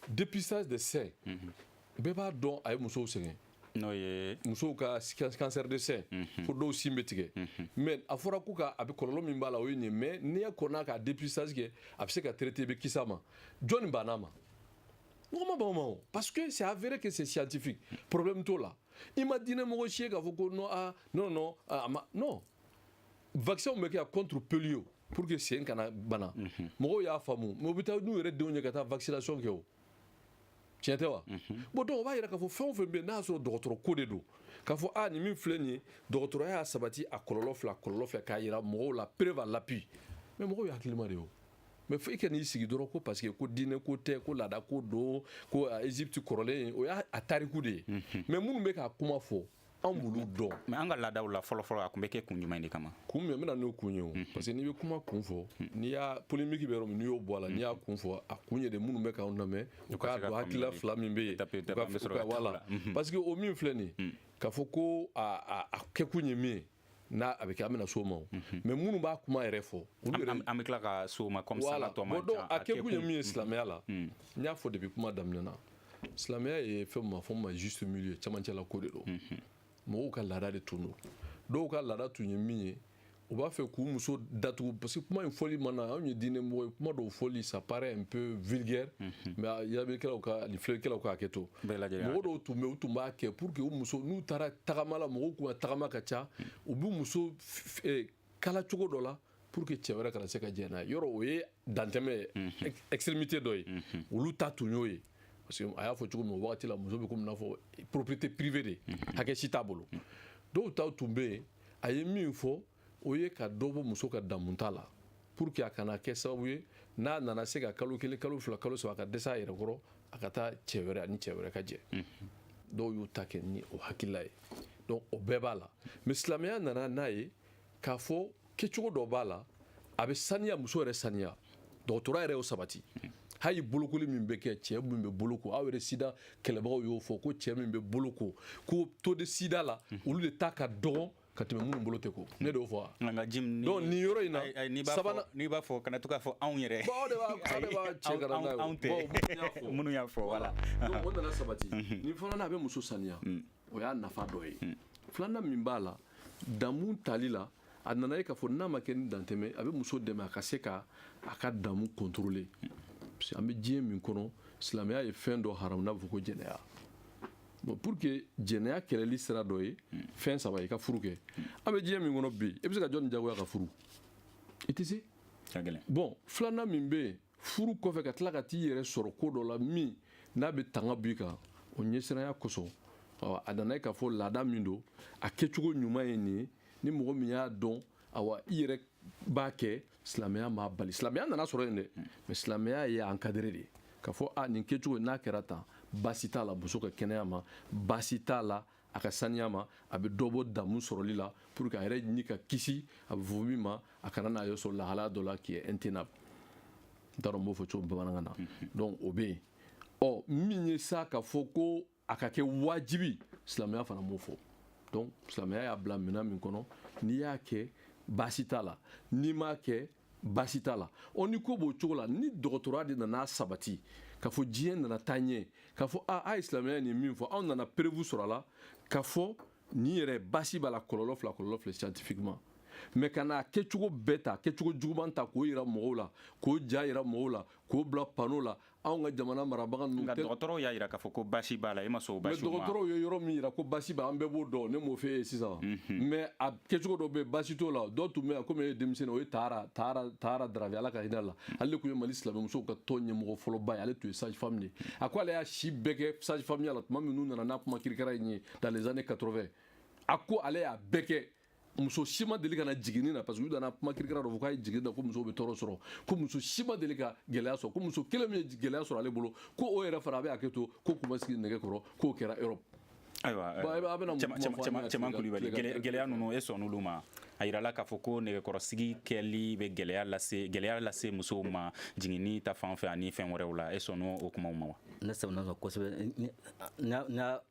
[SPEAKER 4] dépistage de sein bɛɛ b'a dɔn a ye musow sɛgɛn
[SPEAKER 1] n'o ye musow ka
[SPEAKER 4] cancer de sein fo dɔw sin bɛ tigɛ mais a fɔra ko ka a bɛ kɔlɔlɔ min b'a la o ye nin ye mais n'i kɔnna k'a dépistage kɛ a bɛ se ka traiter i bɛ kisi a ma jɔnni banna a ma mɔgɔ ma ban o ma o parce que c'est avéré que c'est scientifique problème t'o la i ma diinɛ mɔgɔ si ye k'a fɔ ko non ah non non a ma non vaccin bɛ kɛ contre polio pour que sen kana bana mhm. mɔgɔw y'a faamu mais u bɛ taa n'u yɛrɛ denw ye ka taa vaccination kɛ o tiɲɛ tɛ wa mhm. bon donc o b'a yira k'a fɔ fɛn o fɛn bɛ yen n'a y'a sɔrɔ dɔgɔtɔrɔ ko de don k'a fɔ aa nin min filɛ nin ye dɔgɔtɔrɔya y'a sabati a kɔlɔlɔ filɛ kɔlɔlɔ filɛ k'a yira mɔgɔw la preuve à l'appui mais mɔgɔw ye hakilima de ye o mais fo i ka n'i sigi dɔrɔn ko parce que ko diinɛ ko tɛ ko laada ko don ko egypte kɔrɔlen o y'a tariku de ye mais minnu bɛ k'a kuma fɔ anw b'olu dɔn mais an ka laadaw
[SPEAKER 1] la fɔlɔfɔlɔ a tun bɛ kɛ kun jumɛn de kama kun min n bɛna n'o kun
[SPEAKER 4] ye o parce que n'i bɛ kuma kun fɔ n'i y'a polémique bɛ yɔrɔ min n'i y'o bɔ a la n'i y'a kun fɔ a kun ye de minnu bɛ k'anw lamɛn u k'a dɔn hakilila fila min bɛ yen voilà parce que o min filɛ nin k'a fɔ ko a kɛkun ye min ye n'a a bɛ kɛ an bɛna s'o ma o mhm. mais minnu b'a kuma yɛrɛ fɔ olu yɛrɛ an bɛ tila ka s'o
[SPEAKER 1] ma comme ça la tɔ man ca a kɛkun ye min ye silamɛya
[SPEAKER 4] la mhm. mhm. n y'a fɔ depuis kuma daminɛ na silamɛya ye fɛn min ma fɔ ma juste milieu cɛmancɛla ko de don mɔgɔw ka laada de tun don dɔw ka laada tun ye min ye u b'a fɛ k'u muso datugu parce que kuma in fɔli mana anw ye diinɛ mɔgɔ ye kuma dɔw fɔli ça paraît un peu vulgaire mais yabikɛlaw ka ani filɛlikɛlaw ka hakɛ to mɔgɔ dɔw tun bɛ u tun b'a kɛ pour que u muso n'u taara tagama la mɔgɔw k'u ka tagama ka ca u bɛ muso eh, kala cogo dɔ la pour que cɛ wɛrɛ kana se ka jɛn n'a ye yɔrɔ o ye dantɛmɛ ye mhm. extrémité dɔ ye mhm. olu ta tun y'o ye parce que a y'a fɔ cogo min o wagati la muso bɛ komi n'a fɔ propriété privée de mhm. hakɛ si t'a bolo dɔw taw tun bɛ yen a ye min fɔ o ye ka dɔ bɔ muso ka damuta la pour que a kana kɛ sababu ye n'a nana se ka kalo kelen kalo fila kalo saba a ka dɛsɛ a yɛrɛ kɔrɔ a ka taa cɛ wɛrɛ ani cɛ wɛrɛ ka jɛ dɔw y'u ta kɛ ni o hakilila ye donc o bɛɛ b'a la mais silamɛya nana n'a ye k'a fɔ kɛcogo dɔ b'a la a bɛ saniya muso yɛrɛ saniya dɔgɔtɔrɔ yɛrɛ y'o sabati hali bolokoli min bɛ kɛ cɛ min bɛ boloko aw yɛrɛ sida kɛlɛbagaw y'o fɔ ko cɛ min bɛ boloko ko taux de sida la olu de ta ka dɔgɔn ka tɛmɛ minnu bolo tɛ ko ne de y'o fɔ nka nka jim ni donc nin yɔrɔ in na n'i b'a fɔ n'i b'a fɔ kana to
[SPEAKER 1] k'a fɔ anw yɛrɛ bon de b'a aw de b'a
[SPEAKER 4] cɛ ka na n'a ye anw tɛ
[SPEAKER 1] minnu y'a fɔ voilà donc o nana sabati
[SPEAKER 4] mhm. nin fana na a bɛ muso saniya mm. o y'a nafa dɔ ye mm. filanan min b'a la damu tali la a nana ye k'a fɔ n'a ma kɛ ni dantɛmɛ a bɛ muso dɛmɛ a ka se ka a ka damu contrôler mm. parce que an bɛ diɲɛ min kɔnɔ silamɛya ye fɛn dɔ haramu n'a bɛ fɔ ko jɛnɛya bon pour que jɛnɛya kɛlɛli sira dɔ ye fɛn saba ye ka furu kɛ an bɛ diɲɛ min kɔnɔ bi i bɛ se ka jɔni jagoya ka furu i tɛ se bon filanan min bɛ yen furu kɔfɛ ka tila ka t'i yɛrɛ sɔrɔ ko dɔ la min n'a bɛ tanga b'i kan o ɲɛsiranya kosɔn a nana ye k'a fɔ laada min don a kɛcogo ɲuman ye nin ye ni mɔgɔ min y'a dɔn awa i yɛrɛ b'a kɛ silamɛya m'a bali silamɛya nana sɔrɔ yen dɛ hmm. mais silamɛya y'a encadré de k'a fɔ a nin kɛcogo n'a kɛra tan baasi t'a la muso ka kɛnɛya ma baasi t'a la a ka saniya ma a bɛ dɔ bɔ damu sɔrɔli la pour que a yɛrɛ ni ka kisi a bɛ fɔ min ma a kana n'a yɛrɛ sɔrɔ lahalaya dɔ la qui est intenable n t'a dɔn n b'o fɔ cogo bamanankan na donc o bɛ yen ɔ min ye sa k'a fɔ ko a ka kɛ wajibi silamɛya fana m'o fɔ donc silamɛya y'a bila minɛn min kɔnɔ n'i y'a kɛ baasi t'a la n'i m'a kɛ baasi t'a la ɔ ni ko b'o cogo la ni dɔgɔtɔrɔya de nan'a sabati k'a fɔ diɲɛ nana taa ɲɛ k'a fɔ a a ye silamɛya nin min fɔ anw nana preuve sɔrɔ a la k'a fɔ nin yɛrɛ baasi b'a la kɔlɔlɔ filɛ kɔlɔlɔ filɛ scientifiquement mais ka n'a kɛcogo bɛɛ ta kɛcogo juguman ta k'o yira mɔgɔw la k'o ja yira mɔgɔw la k'o bila panneau la anw ka jamana marabaga ninnu nka dɔgɔtɔrɔw y'a yira k'a
[SPEAKER 1] fɔ ko baasi b'a la e ma sɔn o baasi ma dɔgɔtɔrɔw ye yɔrɔ min
[SPEAKER 4] yira ko baasi b'a an bɛɛ b'o dɔn ne m'o f'e ye sisan mhm. mais a kɛcogo dɔ bɛ baasi t'o la dɔw tun bɛ yan komi e ye denmisɛnnin o ye Tahara Tahara Tahara Dravé ala ka hinɛ la ale de tun ye mali silamɛmusow ka tɔn ɲɛmɔgɔ fɔlɔba ye ale tun ye sage femme de ye a ko ale y'a si bɛɛ kɛ sage femme ya la tuma min n'u nana n'a kuma kirikara in ye dans les années 80 a ko ale y'a bɛɛ kɛ muso si ma deli ka na jiginni na parce que u nana kuma kirikara dɔ fɔ k'a ye jiginni na ko muso bɛ tɔɔrɔ sɔrɔ ko muso si ma deli ka gɛlɛya sɔrɔ ko muso kelen min ye gɛlɛya sɔrɔ ale bolo ko o yɛrɛ fana a bɛ hakɛ to k'o kun ma sigi nɛgɛ kɔrɔ k'o kɛra Europe ayiwa
[SPEAKER 1] cɛman kulubali gɛlɛya ninnu e sɔnn'olu ma a yirala k'a fɔ ko nɛgɛkɔrɔsigi kɛli bɛ gɛlɛya lase gɛlɛya lase musow ma jiginni ta fan fɛ ani fɛn wɛrɛw la e sɔnn'o kumaw ma wa ne sɔnna kosɛbɛ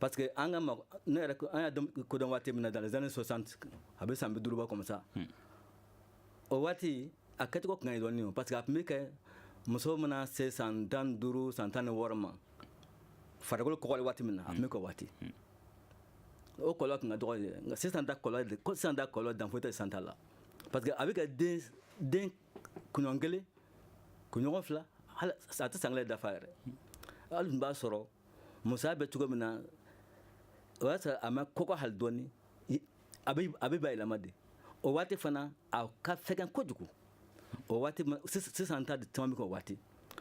[SPEAKER 3] parce que an ka ne yɛrɛ an y'a ko dɔn waati min na dans les années 60 a bɛ san bi duuru bɔ comme ça hmm. o waati a kɛcogo tun ka ɲi dɔɔni parce que a tun bɛ kɛ muso mana se san tan duuru san tan ni wɔɔrɔ ma farikolo kɔgɔli waati min na a tun bɛ k'o waati hmm. o kɔlɔlɔ tun ka dɔgɔ de nka sisan ta kɔlɔlɔ sisan ta kɔlɔlɔ dan foyi tɛ sisan ta la parce que a bɛ kɛ den den kunɲɔgɔn kelen kunɲɔgɔn fila hali a tɛ san kelen dafa yɛrɛ hali tun b'a sɔrɔ musoya bɛ cogo min na o y'a sɔrɔ a ma kɔgɔ hali dɔɔni a bɛ bayɛlɛma de o waati fana a ka fɛgɛn kojugu o waati sisan ta caman bɛ k'o waati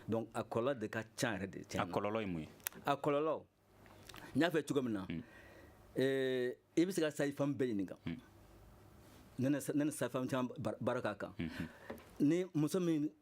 [SPEAKER 3] donc a kɔlɔlɔ de ka ca yɛrɛ de tiɲɛ a kɔlɔlɔ ye mun
[SPEAKER 1] ye a
[SPEAKER 3] kɔlɔlɔ n y'a fɔ cogo min na hmm. eh, i bɛ se ka sage femme bɛɛ ɲininka hmm. ne ni sage femme caman baara k'a kan hmm, ni muso min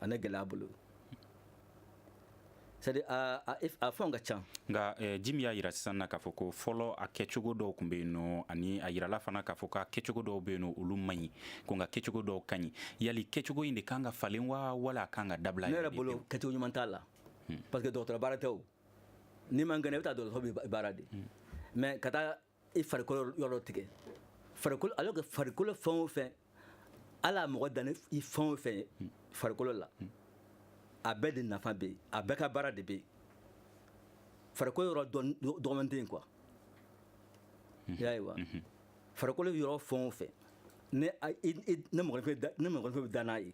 [SPEAKER 3] ani gɛlɛya bolo c'est à dire a fɛnw ka ca nka eh, jimi y'a
[SPEAKER 1] yira sisan na k'a fɔ ko fɔlɔ a kɛcogo dɔw tun bɛ yen nɔ ani a yirala fana k'a fɔ k'a kɛcogo dɔw bɛ yen nɔ olu man ɲi ko nka kɛcogo dɔw ka ɲi yali kɛcogo in de kan ka falen wa wala a kan ka dabila ne yɛrɛ bolo
[SPEAKER 3] kɛcogo ɲuman t'a la hmm. parce que dɔgɔtɔrɔ baara tɛ o n'i man kɛnɛ i bɛ taa dɔgɔtɔrɔ bɛ baara de hmm. mais ka taa i farikolo yɔrɔ tigɛ farikolo alors que farikolo fɛn o fɛn ala mɔgɔ dan ni fɛn o fɛn ye farikolo la a bɛɛ de nafa bɛ yen a bɛɛ ka baara de bɛ yen farikolo yɔrɔ dɔgɔman tɛ yen quoi i y'a ye wa farikolo yɔrɔ fɛn o fɛn ni mɔgɔninfin bɛ da n'a ye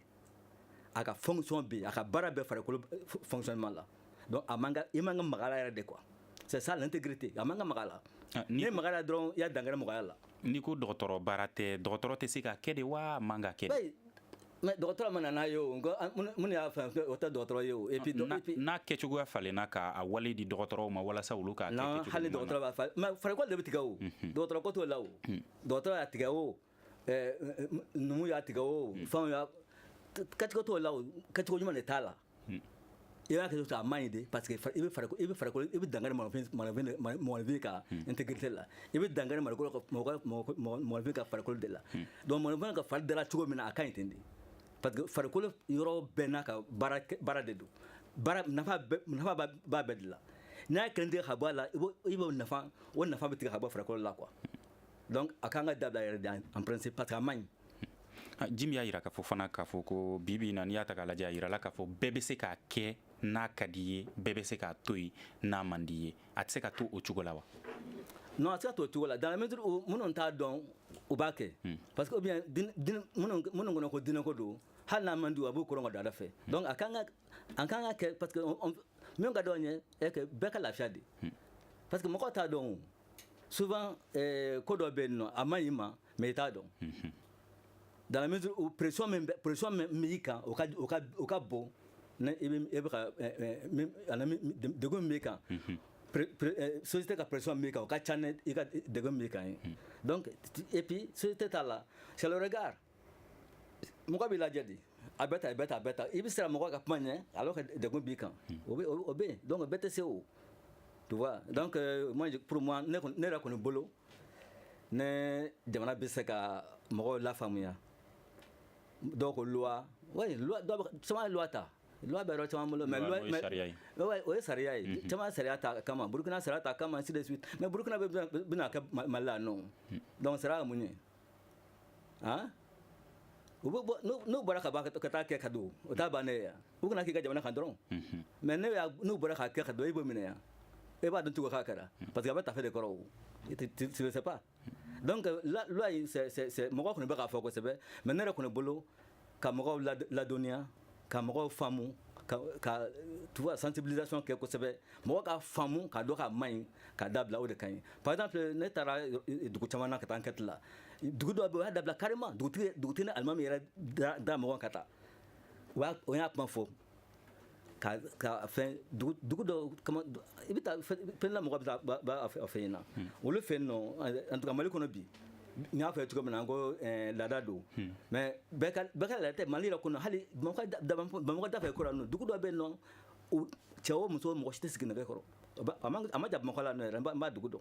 [SPEAKER 3] a ka fonction bɛ yen a ka baara bɛ farikolo fonctionnement la donc a man ka i man ka maga a la yɛrɛ de quoi c'est ça l'intégrité a man ka maga a la ah, n'i maga a la dɔrɔn i y'a dankari mɔgɔya la n'i ko dɔgɔtɔrɔ
[SPEAKER 1] baara tɛ dɔgɔtɔrɔ tɛ se k'a kɛ de wa a man ka kɛ de mais
[SPEAKER 3] dɔgɔtɔrɔ ma na n'a ye o minnu y'a fɛn o tɛ dɔgɔtɔrɔ ye o et puis n'a
[SPEAKER 1] kɛcogoya falenna k'a wale di dɔgɔtɔrɔw ma walasa olu k'a kɛ kɛcogo hali dɔgɔtɔrɔ b'a falen mais
[SPEAKER 3] farikolo de bɛ tigɛ o dɔgɔtɔrɔ ko t'o la o dɔgɔtɔrɔ y'a tigɛ o eh, eh, numu y'a tigɛ o hmm. fɛnw y'a kɛcogo t'o la o kɛcogo ɲuman de t'a la hmm. i b'a kɛ a man ɲi de parce que i bɛ farikolo i bɛ farikolo i bɛ dankari mɔgɔninfin ka hmm. intégrité la i bɛ dankari mɔgɔkolo ka mɔgɔninfin ka farikolo de la donc mɔgɔninfin ka fari dala cogo min na a ka ɲi ten de parce que farikolo yɔrɔ bɛɛ n'a ka baara de don baara nafa b'a bɛɛ de la n'a ye kelen tigɛ ka bɔ a la i b'o nafa o nafa bɛ tigɛ ka bɔ farikolo la quoi donc a kan ka dabila yɛrɛ de en principe parce que a man ah, jimi
[SPEAKER 1] y'a yira k'a fɔ fana k'a fɔ ko bi bi in na n'i y'a ta k'a lajɛ a yirala k'a fɔ bɛɛ bɛ se k'a kɛ n'a ka d'i ye bɛɛ bɛ se k'a to yen n'a man d'i ye a tɛ se ka to o cogo la wa non a tɛ se ka
[SPEAKER 3] to o cogo la dans la mesure où minnu t'a dɔn u b'a kɛ hmm. parce que ou bien minnu kɔnɔ ko diinɛko don hali n'a man di u a b'u koron ka don ala fɛ hmm. donc a kan ka an kan ka kɛ parce que min ka d'an ye bɛɛ ka lafiya de hmm. parce que mɔgɔ t'a dɔn o souvent eh, ko dɔ bɛ yen nɔ a man ɲi i ma mais i t'a dɔn mhm. dans la mesure où pression min pression min b'i kan o ka o ka o ka bon ni i bɛ e bɛ ka eh, eh, ana degun min b'i kan mhm. eh, société ka pression min b'i kan o ka ca ni i ka degun min b'i kan ye mhm. donc et puis société ta la c'est le regard mɔgɔ b'i lajɛ de a bɛ ta a bɛ ta a bɛ ta i bɛ siran mɔgɔ ka kuma ɲɛ alors que degun b'i kan o bɛ o bɛ yen donc bɛɛ tɛ se o tu vois donc euh, moi pour moi ne kɔni ne yɛrɛ kɔni bolo ni jamana bɛ se ka mɔgɔw lafaamuya dɔw ko loi oui loi dɔw bɛ caman ye loi ta loi bɛ yɔrɔ caman bolo mais loi mais ouais o ye sariya ye caman ye sariya ta a kama burukina sariya ta a kama ainsi de suite mais burukinabɛ bɛ n'a kɛ mali la non donc sariya ye mun ye han u bɛ bɔ n'u n'u bɔra ka bɔ ka taa kɛ ka don o t'a bannen ye u kana k'i ka jamana kan dɔrɔn mais ne y'a n'u bɔra k'a kɛ ka don e b'o minɛ yan e b'a dɔn tugu k'a kɛra parce que a bɛ tafe de kɔrɔ o tu ne sais pas donc loi in c'est c'est mɔgɔ kɔni bɛ k'a fɔ kosɛbɛ mais ne yɛrɛ kɔni bolo ka mɔgɔw ladɔnniya ka mɔgɔw faamu ka tu vois sensibilisation kɛ kosɛbɛ mɔgɔ ka faamu k'a dɔn k'a man ɲi k'a dabila o de ka ɲi par exemple ne taara dugu caman na ka taa enquête la dugu dɔ bɛ yen o y'a dabila carrément dugutigi ni alimami yɛrɛ da mɔgɔ ka taa o y'a kuma fɔ ka ka fɛn dugu dɔ i bɛ taa fɛn la mɔgɔ b'a fɛ fɛ yen na olu fɛ yen nɔ en tout cas mali kɔnɔ bi n y'a fɔ cogo min na an ko eh, laada don hmm. mais bɛɛ ka laada tɛ mali yɛrɛ kɔnɔ hali bamakɔ da fɛ kura nɔ dugu dɔ bɛ yen nɔ cɛ o muso mɔgɔ si tɛ sigi nɛgɛ kɔrɔ a man jan bamakɔ la nɔ yɛrɛ n b'a dugu dɔn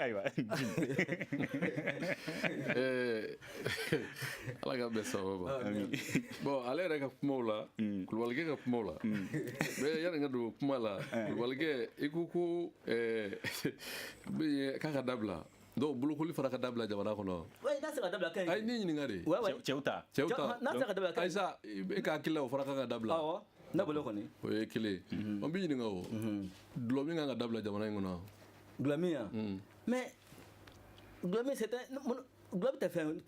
[SPEAKER 4] ayiwa ala ka bɛ sababu bɔn ale yɛrɛ ka kumaw la mm. kulubalikɛ ka kumaw la mm. mais yanni n ka don kuma la eh. kulubalikɛ i ko ko k'a kan ka dabila donc bolokoli fana ka dabila jamana kɔnɔ n'a se ka dabila
[SPEAKER 3] kɛ ayi n y'i ɲininka de
[SPEAKER 4] cɛw ta cɛw
[SPEAKER 1] ta n'a se ka dabila kɛ
[SPEAKER 3] ayisa e ka hakili
[SPEAKER 4] la o fana kan ka dabila awɔ ne bolo kɔni
[SPEAKER 3] o ye kelen
[SPEAKER 4] n b'i ɲininka o dulɔmin kan ka dabila jamana in kɔnɔ Dulɔmin
[SPEAKER 3] ya mm. mais dulɔmin c'est un dulɔ tɛ fɛn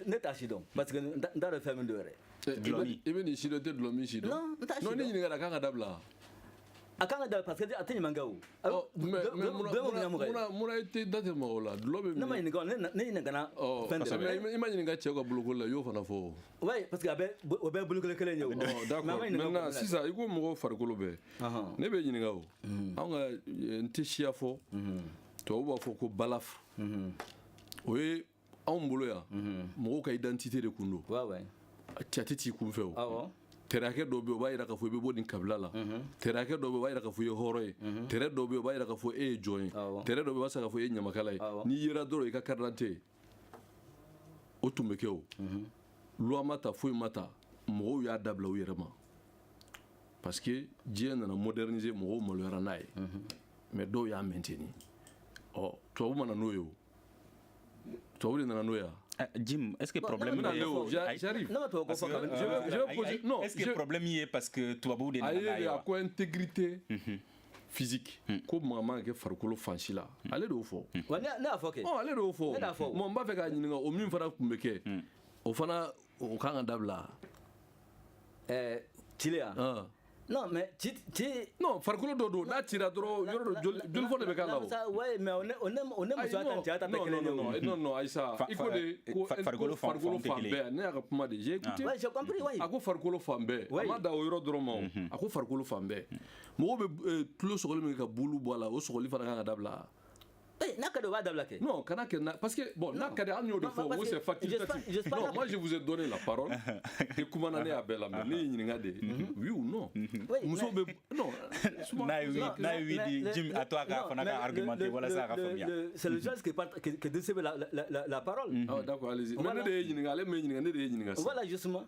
[SPEAKER 3] ne t'a sidɔn parce que n t'a dɔn fɛn min don yɛrɛ. Dulɔmin i bɛ nin sidɔn i tɛ
[SPEAKER 4] dulɔmin sidɔn. non n t'a sidɔn non n y'i ɲininka de
[SPEAKER 3] a kan ka
[SPEAKER 4] dabila. a
[SPEAKER 3] kan ka dabila parce que a tɛ ɲuman kɛ o. ɔ mais
[SPEAKER 4] mais munna munna i tɛ da tɛ mɔgɔw la dulɔ bɛ min. ne ma ɲininka ne ɲininkana
[SPEAKER 3] fɛn dɔ la. i ma ɲininka cɛw ka
[SPEAKER 4] bolokoli la i y'o fana fɔ o. Oui, parce que a
[SPEAKER 3] bɛ o bɛɛ bolokoli kelen ye o. D'accord
[SPEAKER 4] maintenant sisan i ko mɔgɔw farikolo bɛɛ. Ne b'i ɲininka o. Anw ka n tɛ siya fɔ. Tubabu b'a fɔ ko balafre. O ye anw bolo yan mɔgɔw ka identité de kun don. Carte t'i kun fewu. tɛrɛkɛ dɔ bɛ yen o b'a jira k'a fɔ i bɛ bɔ nin kabila la tɛrɛkɛ dɔ bɛ yen o b'a jira k'a fɔ i ye hɔrɔn ye trait dɔ bɛ yen o b'a jira k'a fɔ e ye jɔn ye trait dɔ bɛ yen o b'a jira k'a fɔ e ye ɲamakala ye n'i yera dɔrɔn i ka carte d'identité o tun bɛ kɛ o loi ma ta foyi ma ta mɔgɔw y'a dabila u yɛrɛ ma parce que diɲɛ nana moderniser mɔgɔw maloyara n'a ye mais dɔw y'a maintenir ɔ tubabu ma na n'o ye o tubabu de nana n'o ye eh, Jim, est-ce que
[SPEAKER 1] le problème non, non, j'arrive. Non,
[SPEAKER 4] toi, parce que, je vais, je
[SPEAKER 1] vais poser, non, est-ce que le problème y est parce que tubabu est à quoi intégrité
[SPEAKER 4] mm -hmm. physique hmm. ko maga man ka kɛ farikolo fan si la hmm. ale de y'o fɔ hmm. ne y'a fɔ kɛ
[SPEAKER 3] oh, ale de y'o
[SPEAKER 4] fɔ mɔgɔ n b'a fɛ k'a ɲininka o min fana tun bɛ kɛ o fana o kan ka dabila ɛɛ
[SPEAKER 3] cile ya ah. non mais ci ci non
[SPEAKER 4] farikolo dɔ don n'a cira dɔrɔn yɔrɔ dɔ joli joli fɔ de bɛ k'a la o ouais mais o ne o
[SPEAKER 3] ne o ne muso ta cɛ ta tɛ kelen ye non non non non Aïssa e
[SPEAKER 4] de ko farikolo fan bɛɛ ne y'a ka kuma de j'ai écouté ouais j'ai compris ouais a ko
[SPEAKER 3] farikolo fan
[SPEAKER 4] bɛɛ a ma dan o yɔrɔ dɔrɔn ma o a ko farikolo fan bɛɛ mɔgɔw bɛ eh, tulo sɔgɔli min kɛ ka bulu bɔ a la o sɔgɔli fana kan ka dabila eh, n'a ka
[SPEAKER 3] di o b'a dabila kɛ non kana kɛ parce
[SPEAKER 4] que bon n'a ka di hali n y'o de fɔ ko c'est facultatif non moi je vous ai donné la parole i kumana ne y'a bɛɛ lamɛn ne y'i ɲininka de mhm. oui ou non mhm. muso bɛ non n'a
[SPEAKER 1] ye n'a ye oui di Jim a to a fana ka argumenter walasa a ka faamuya c'est le chose qui
[SPEAKER 3] qui distribue la la la parole ah d'accord allez-y mais ne
[SPEAKER 4] de y'i ɲininka ale m'e ɲininka ne de y'i ɲininka voilà justement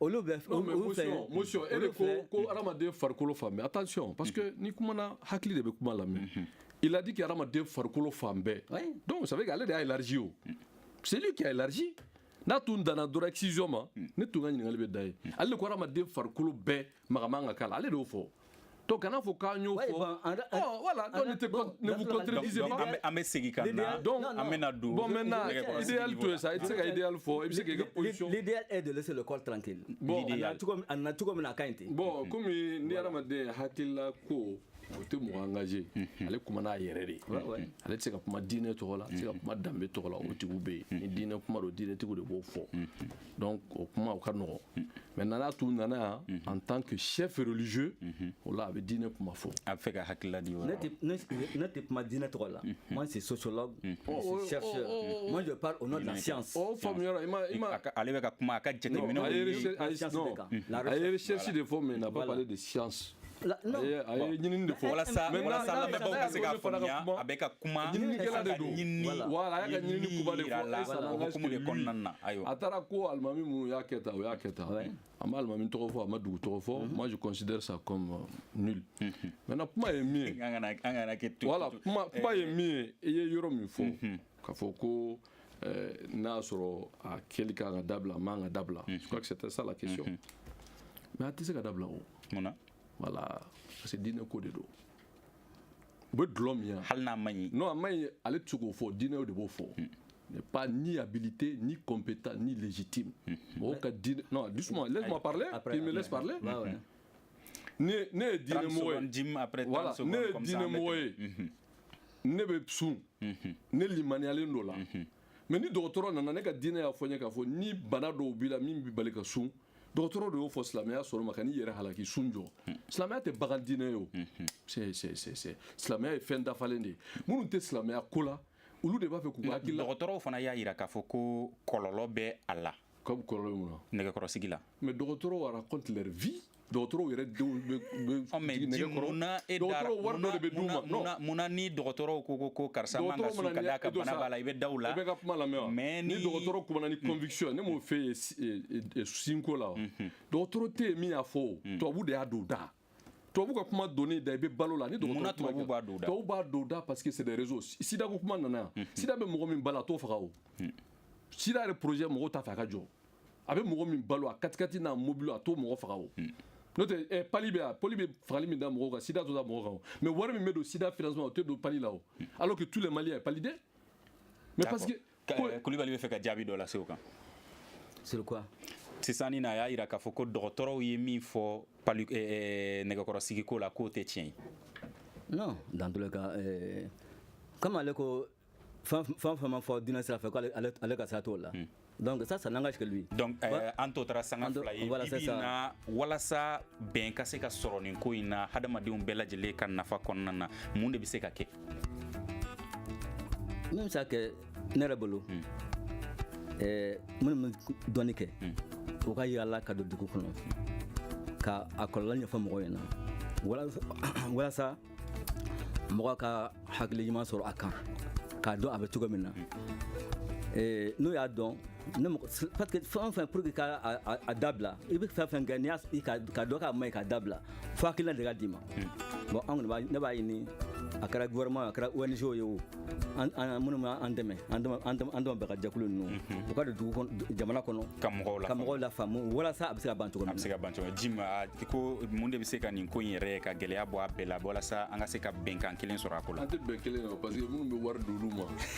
[SPEAKER 3] olu bɛ
[SPEAKER 4] monsieur e de ko ko adamaden farikolo fan bɛɛ attention parce que n'i kumana hakili de bɛ kuma lamɛn mhm. il a dit que adamaden farikolo fan bɛɛ donc ça veut dire ale de y'a élargi o mm. c'est lui qui a élargi n'a tun danna dɔrɔn excision ma mm. ne tun ka ɲininkali bɛ dan yen mm. ale de ko adamaden farikolo bɛɛ maga man ka k'a la ale de y'o fɔ Donc kana fɔ k'an y'o fɔ voilà ne vous contredisez pas an bɛ segin ka
[SPEAKER 1] na donc an bɛna don bon maintenant
[SPEAKER 4] idéal to sa i tɛ se ka idéal fɔ i bɛ se ka l'idéal est de laisser le
[SPEAKER 3] corps tranquille bon a na cogo min na a ka ɲi ten bon comme
[SPEAKER 4] ni hadamaden hakilila ko o tɛ mɔgɔ engager ale kumana a yɛrɛ de ale tɛ se ka kuma diinɛ tɔgɔ la a tɛ se ka kuma danbe tɔgɔ la o tigiw bɛ yen ni diinɛ kuma don diinɛtigiw de b'o fɔ donc o kuma o ka nɔgɔn mm. maintenant n'a tun nana yan mm-hmm. en tant que chef religieux mm-hmm. o la a bɛ diinɛ kuma fɔ a bɛ fɛ ka hakilila di
[SPEAKER 1] ne tɛ kuma
[SPEAKER 3] diinɛ tɔgɔ la mm-hmm. moi c'est sociologue je oh, suis oh, chercheur oh, moi je parle au nom de la science o faamuyara i
[SPEAKER 4] ma ale bɛ ka kuma a ka
[SPEAKER 1] jateminɛw
[SPEAKER 4] a ye recherche de fɔ mais il n'a pas parlé de science La- non. a ye a ye ɲinini de fɔ walasa Maintenant, walasa n'a bɛ
[SPEAKER 1] lamɛnbaaw ka se k'a fɔ ne fana ka faamuya kuma, a bɛ ka kuma ɲininikɛla de a ka don
[SPEAKER 4] ɲinini Voilà, a y'a ka ɲinini ɲinini kuba de yira fɔ la et ça o n'engage que hukumu de lui. kɔnɔna na
[SPEAKER 1] ayiwa a taara ko alimami
[SPEAKER 4] minnu y'a kɛ tan o y'a kɛ tan a ma alimami tɔgɔ fɔ a ma dugu tɔgɔ fɔ moi je considère ça comme euh, nul maintenant kuma ye min ye an kana an kana kɛ to voilà to- kuma eh, kuma ye min ye i ye yɔrɔ min fɔ k'a fɔ ko euh, n'a y'a sɔrɔ a kɛli kan ka dabila a man ka dabila je crois que c'était ça la question mais a tɛ se ka dabila o mun na voilà parce que diinɛ ko de don u bɛ dɔlɔ min yan hali n'a man ɲi non a man
[SPEAKER 1] ɲi ale tɛ
[SPEAKER 4] se k'o fɔ diinɛw de b'o fɔ n'est pas ni habilité, ni compétent, ni légitime. Mɔgɔw ka diinɛ non doucement laisse-moi parler Après, il me laisse parler ne ne ye diinɛmɔgɔ ye voilà ne ye diinɛmɔgɔ ye ne bɛ sun mhm. ne limaniyalen don o la mhm. mais ni dɔgɔtɔrɔ nana ne ka diinɛ y'a fɔ n ye k'a fɔ ni bana dɔw b'i la min b'i bali ka sun dɔgɔtɔrɔ de y'o fɔ silamɛya sɔnn'o ma kan'i yɛrɛ halaki sun jɔ mhm. silamɛya tɛ bagan diinɛ ye o sɛ sɛ sɛ sɛ silamɛya ye fɛn dafalen de ye minnu tɛ silamɛya ko la olu de b'a fɛ k'u ka hakilila dɔgɔtɔrɔw fana y'a jira k'a fɔ
[SPEAKER 1] ko kɔlɔlɔ bɛ a la ka kɔlɔlɔ ye mun
[SPEAKER 4] na nɛgɛkɔrɔsigi la
[SPEAKER 1] mais dɔgɔtɔrɔw
[SPEAKER 4] racontent leur vie dɔgɔtɔrɔw yɛrɛ denw bɛ nɛgɛkɔrɔ dɔgɔtɔrɔ wari dɔ de bɛ d'u ma non munna ni dɔgɔtɔrɔw
[SPEAKER 1] ko ko ko karisa man ka sun ka d'a kan bana b'a la i bɛ da u la i b'u ka kuma lamɛn wa
[SPEAKER 4] mais ni dɔgɔtɔrɔ kumana ni mm. conviction ne m'o f'i ye sunko la wa dɔgɔtɔrɔ tɛ yen min y'a fɔ o mm. tubabu de y'a don u da tubabu ka kuma don i da i bɛ balo la ni dɔgɔtɔrɔ tubabu b'a don u da tubabu
[SPEAKER 1] b'a don u da parce
[SPEAKER 4] que c'est des réseaux sida ko kuma nana yan sida bɛ mɔgɔ min balo a t'o faga o sida yɛrɛ projet mɔgɔw t'a fɛ a ka jɔ a bɛ mɔgɔ min balo a katikati n'a mobili a t'o mɔgɔ faga o n'o tɛ eh, palu bɛ yan palu bɛ fagali min da mɔgɔw kan sida t'o da mɔgɔ kan o mais wari min bɛ don sida financement o tɛ don palu la o alors que tous les maliens ye paludéens mais parce que kulubali bɛ fɛ
[SPEAKER 1] ka jaabi dɔ lase o kan sur
[SPEAKER 3] quoi sisan nin na a
[SPEAKER 1] y'a yira k'a fɔ ko dɔgɔtɔrɔw ye min fɔ palu eh, eh, nɛgɛkɔrɔsigiko la k'o tɛ tiɲɛ ye non
[SPEAKER 3] dans tous les cas eh, comme ale ko fɛn fɛn fɛn ma fɔ diinɛ sira fɛ ko ale ka sira t'o la hmm. donc ça ça n'engage que lui donc euh, an tɔ
[SPEAKER 1] tora sanga fila ye bibi na walasa bɛn ka se ka sɔrɔ nin ko in na hadamadenw bɛɛ lajɛlen ka nafa kɔnɔna na mun de bɛ se ka kɛ
[SPEAKER 3] min bɛ se ka kɛ ne yɛrɛ bolo hmm. eh, minnu bɛ dɔnni kɛ hmm. u ka yaala ka don dugu kɔnɔ ka a kɔlɔlɔ ɲɛfɔ mɔgɔw ɲɛna walasa mɔgɔ ka hakili ɲuman sɔrɔ a kan k'a dɔn a bɛ cogo min na hmm. eh, n'u y'a dɔn ne mɔgɔ s- parce que fɛn o fɛn pour que ka a, a, a dabila i bɛ fɛn fɛn kɛ n'i y'a s- i ka k'a dɔn k'a man ɲi k'a dabila fo hakilina de ka d'i ma bon an kɔni b'a ne b'a ɲini a kɛra gouvernement ye, a kɛra ONG ye o an an minnu bɛ an dɛmɛ an dɛmɛ an dɛmɛ an dɛmɛ bɛɛ ka jɛkulu ninnu u ka don dugu kɔnɔ jamana kɔnɔ Ka mɔgɔw ka lafaamu. mɔgɔw lafaamu walasa a bɛ se ka ban cogo min na a bɛ se ka ban cogo ji
[SPEAKER 1] ma a- i ko mun de bɛ se ka nin ko in yɛrɛ ka gɛlɛya bɔ a bɛɛ la walasa an ka se ka bɛnkan kelen sɔrɔ a ko la an tɛ bɛn kelen na parce
[SPEAKER 4] que minnu bɛ wari d'olu ma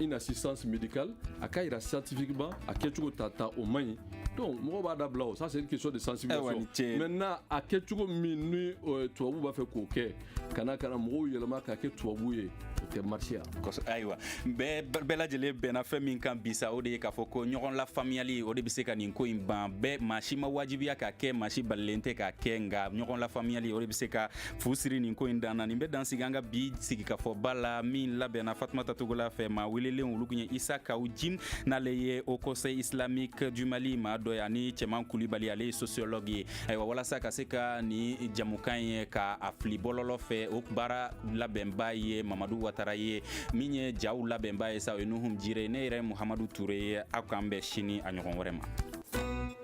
[SPEAKER 4] une assistance médicale a k'a jira scientifiquement a kɛcogo ta ta o man ɲi donc mɔgɔw b'a dabila o ça c'est une question de sensibilisation eh maintenant a kɛcogo min ni euh, tubabu b'a fɛ k'o kɛ ka na ka na mɔgɔw yɛlɛma k'a kɛ tubabu ye o tɛ
[SPEAKER 3] marché a kosɛbɛ ayiwa
[SPEAKER 1] bɛɛ bɛɛ lajɛlen bɛnna fɛn min kan bi sa o de ye k'a fɔ ko ɲɔgɔn lafaamuyali o de bɛ se ka nin ko in ban bɛɛ maa si ma wajibiya k'a kɛ maa si balilen tɛ k'a kɛ nka ɲɔgɔn lafaamuyali o de bɛ se ka fu siri nin ko in dan na nin bɛ dan sigi an ka bi sigikafɔba la min labɛnna fatumata togola fɛ maa welelenw olu kun ye isa kawu jim n'ale ye haut conseil islamique du mali maa dɔ ye ani cɛman kulibali ale ye sociologue ye ayiwa walasa ka se ka nin jɛmukan ye ka a fili bɔlɔlɔ fɛ o baara labɛnba ye mamadu watara ye min ye jaw labɛnba ye sa o ye nuhum jire ne yɛrɛ muhamadu ture ye aw k'an bɛn sini a ɲɔgɔn wɛrɛ ma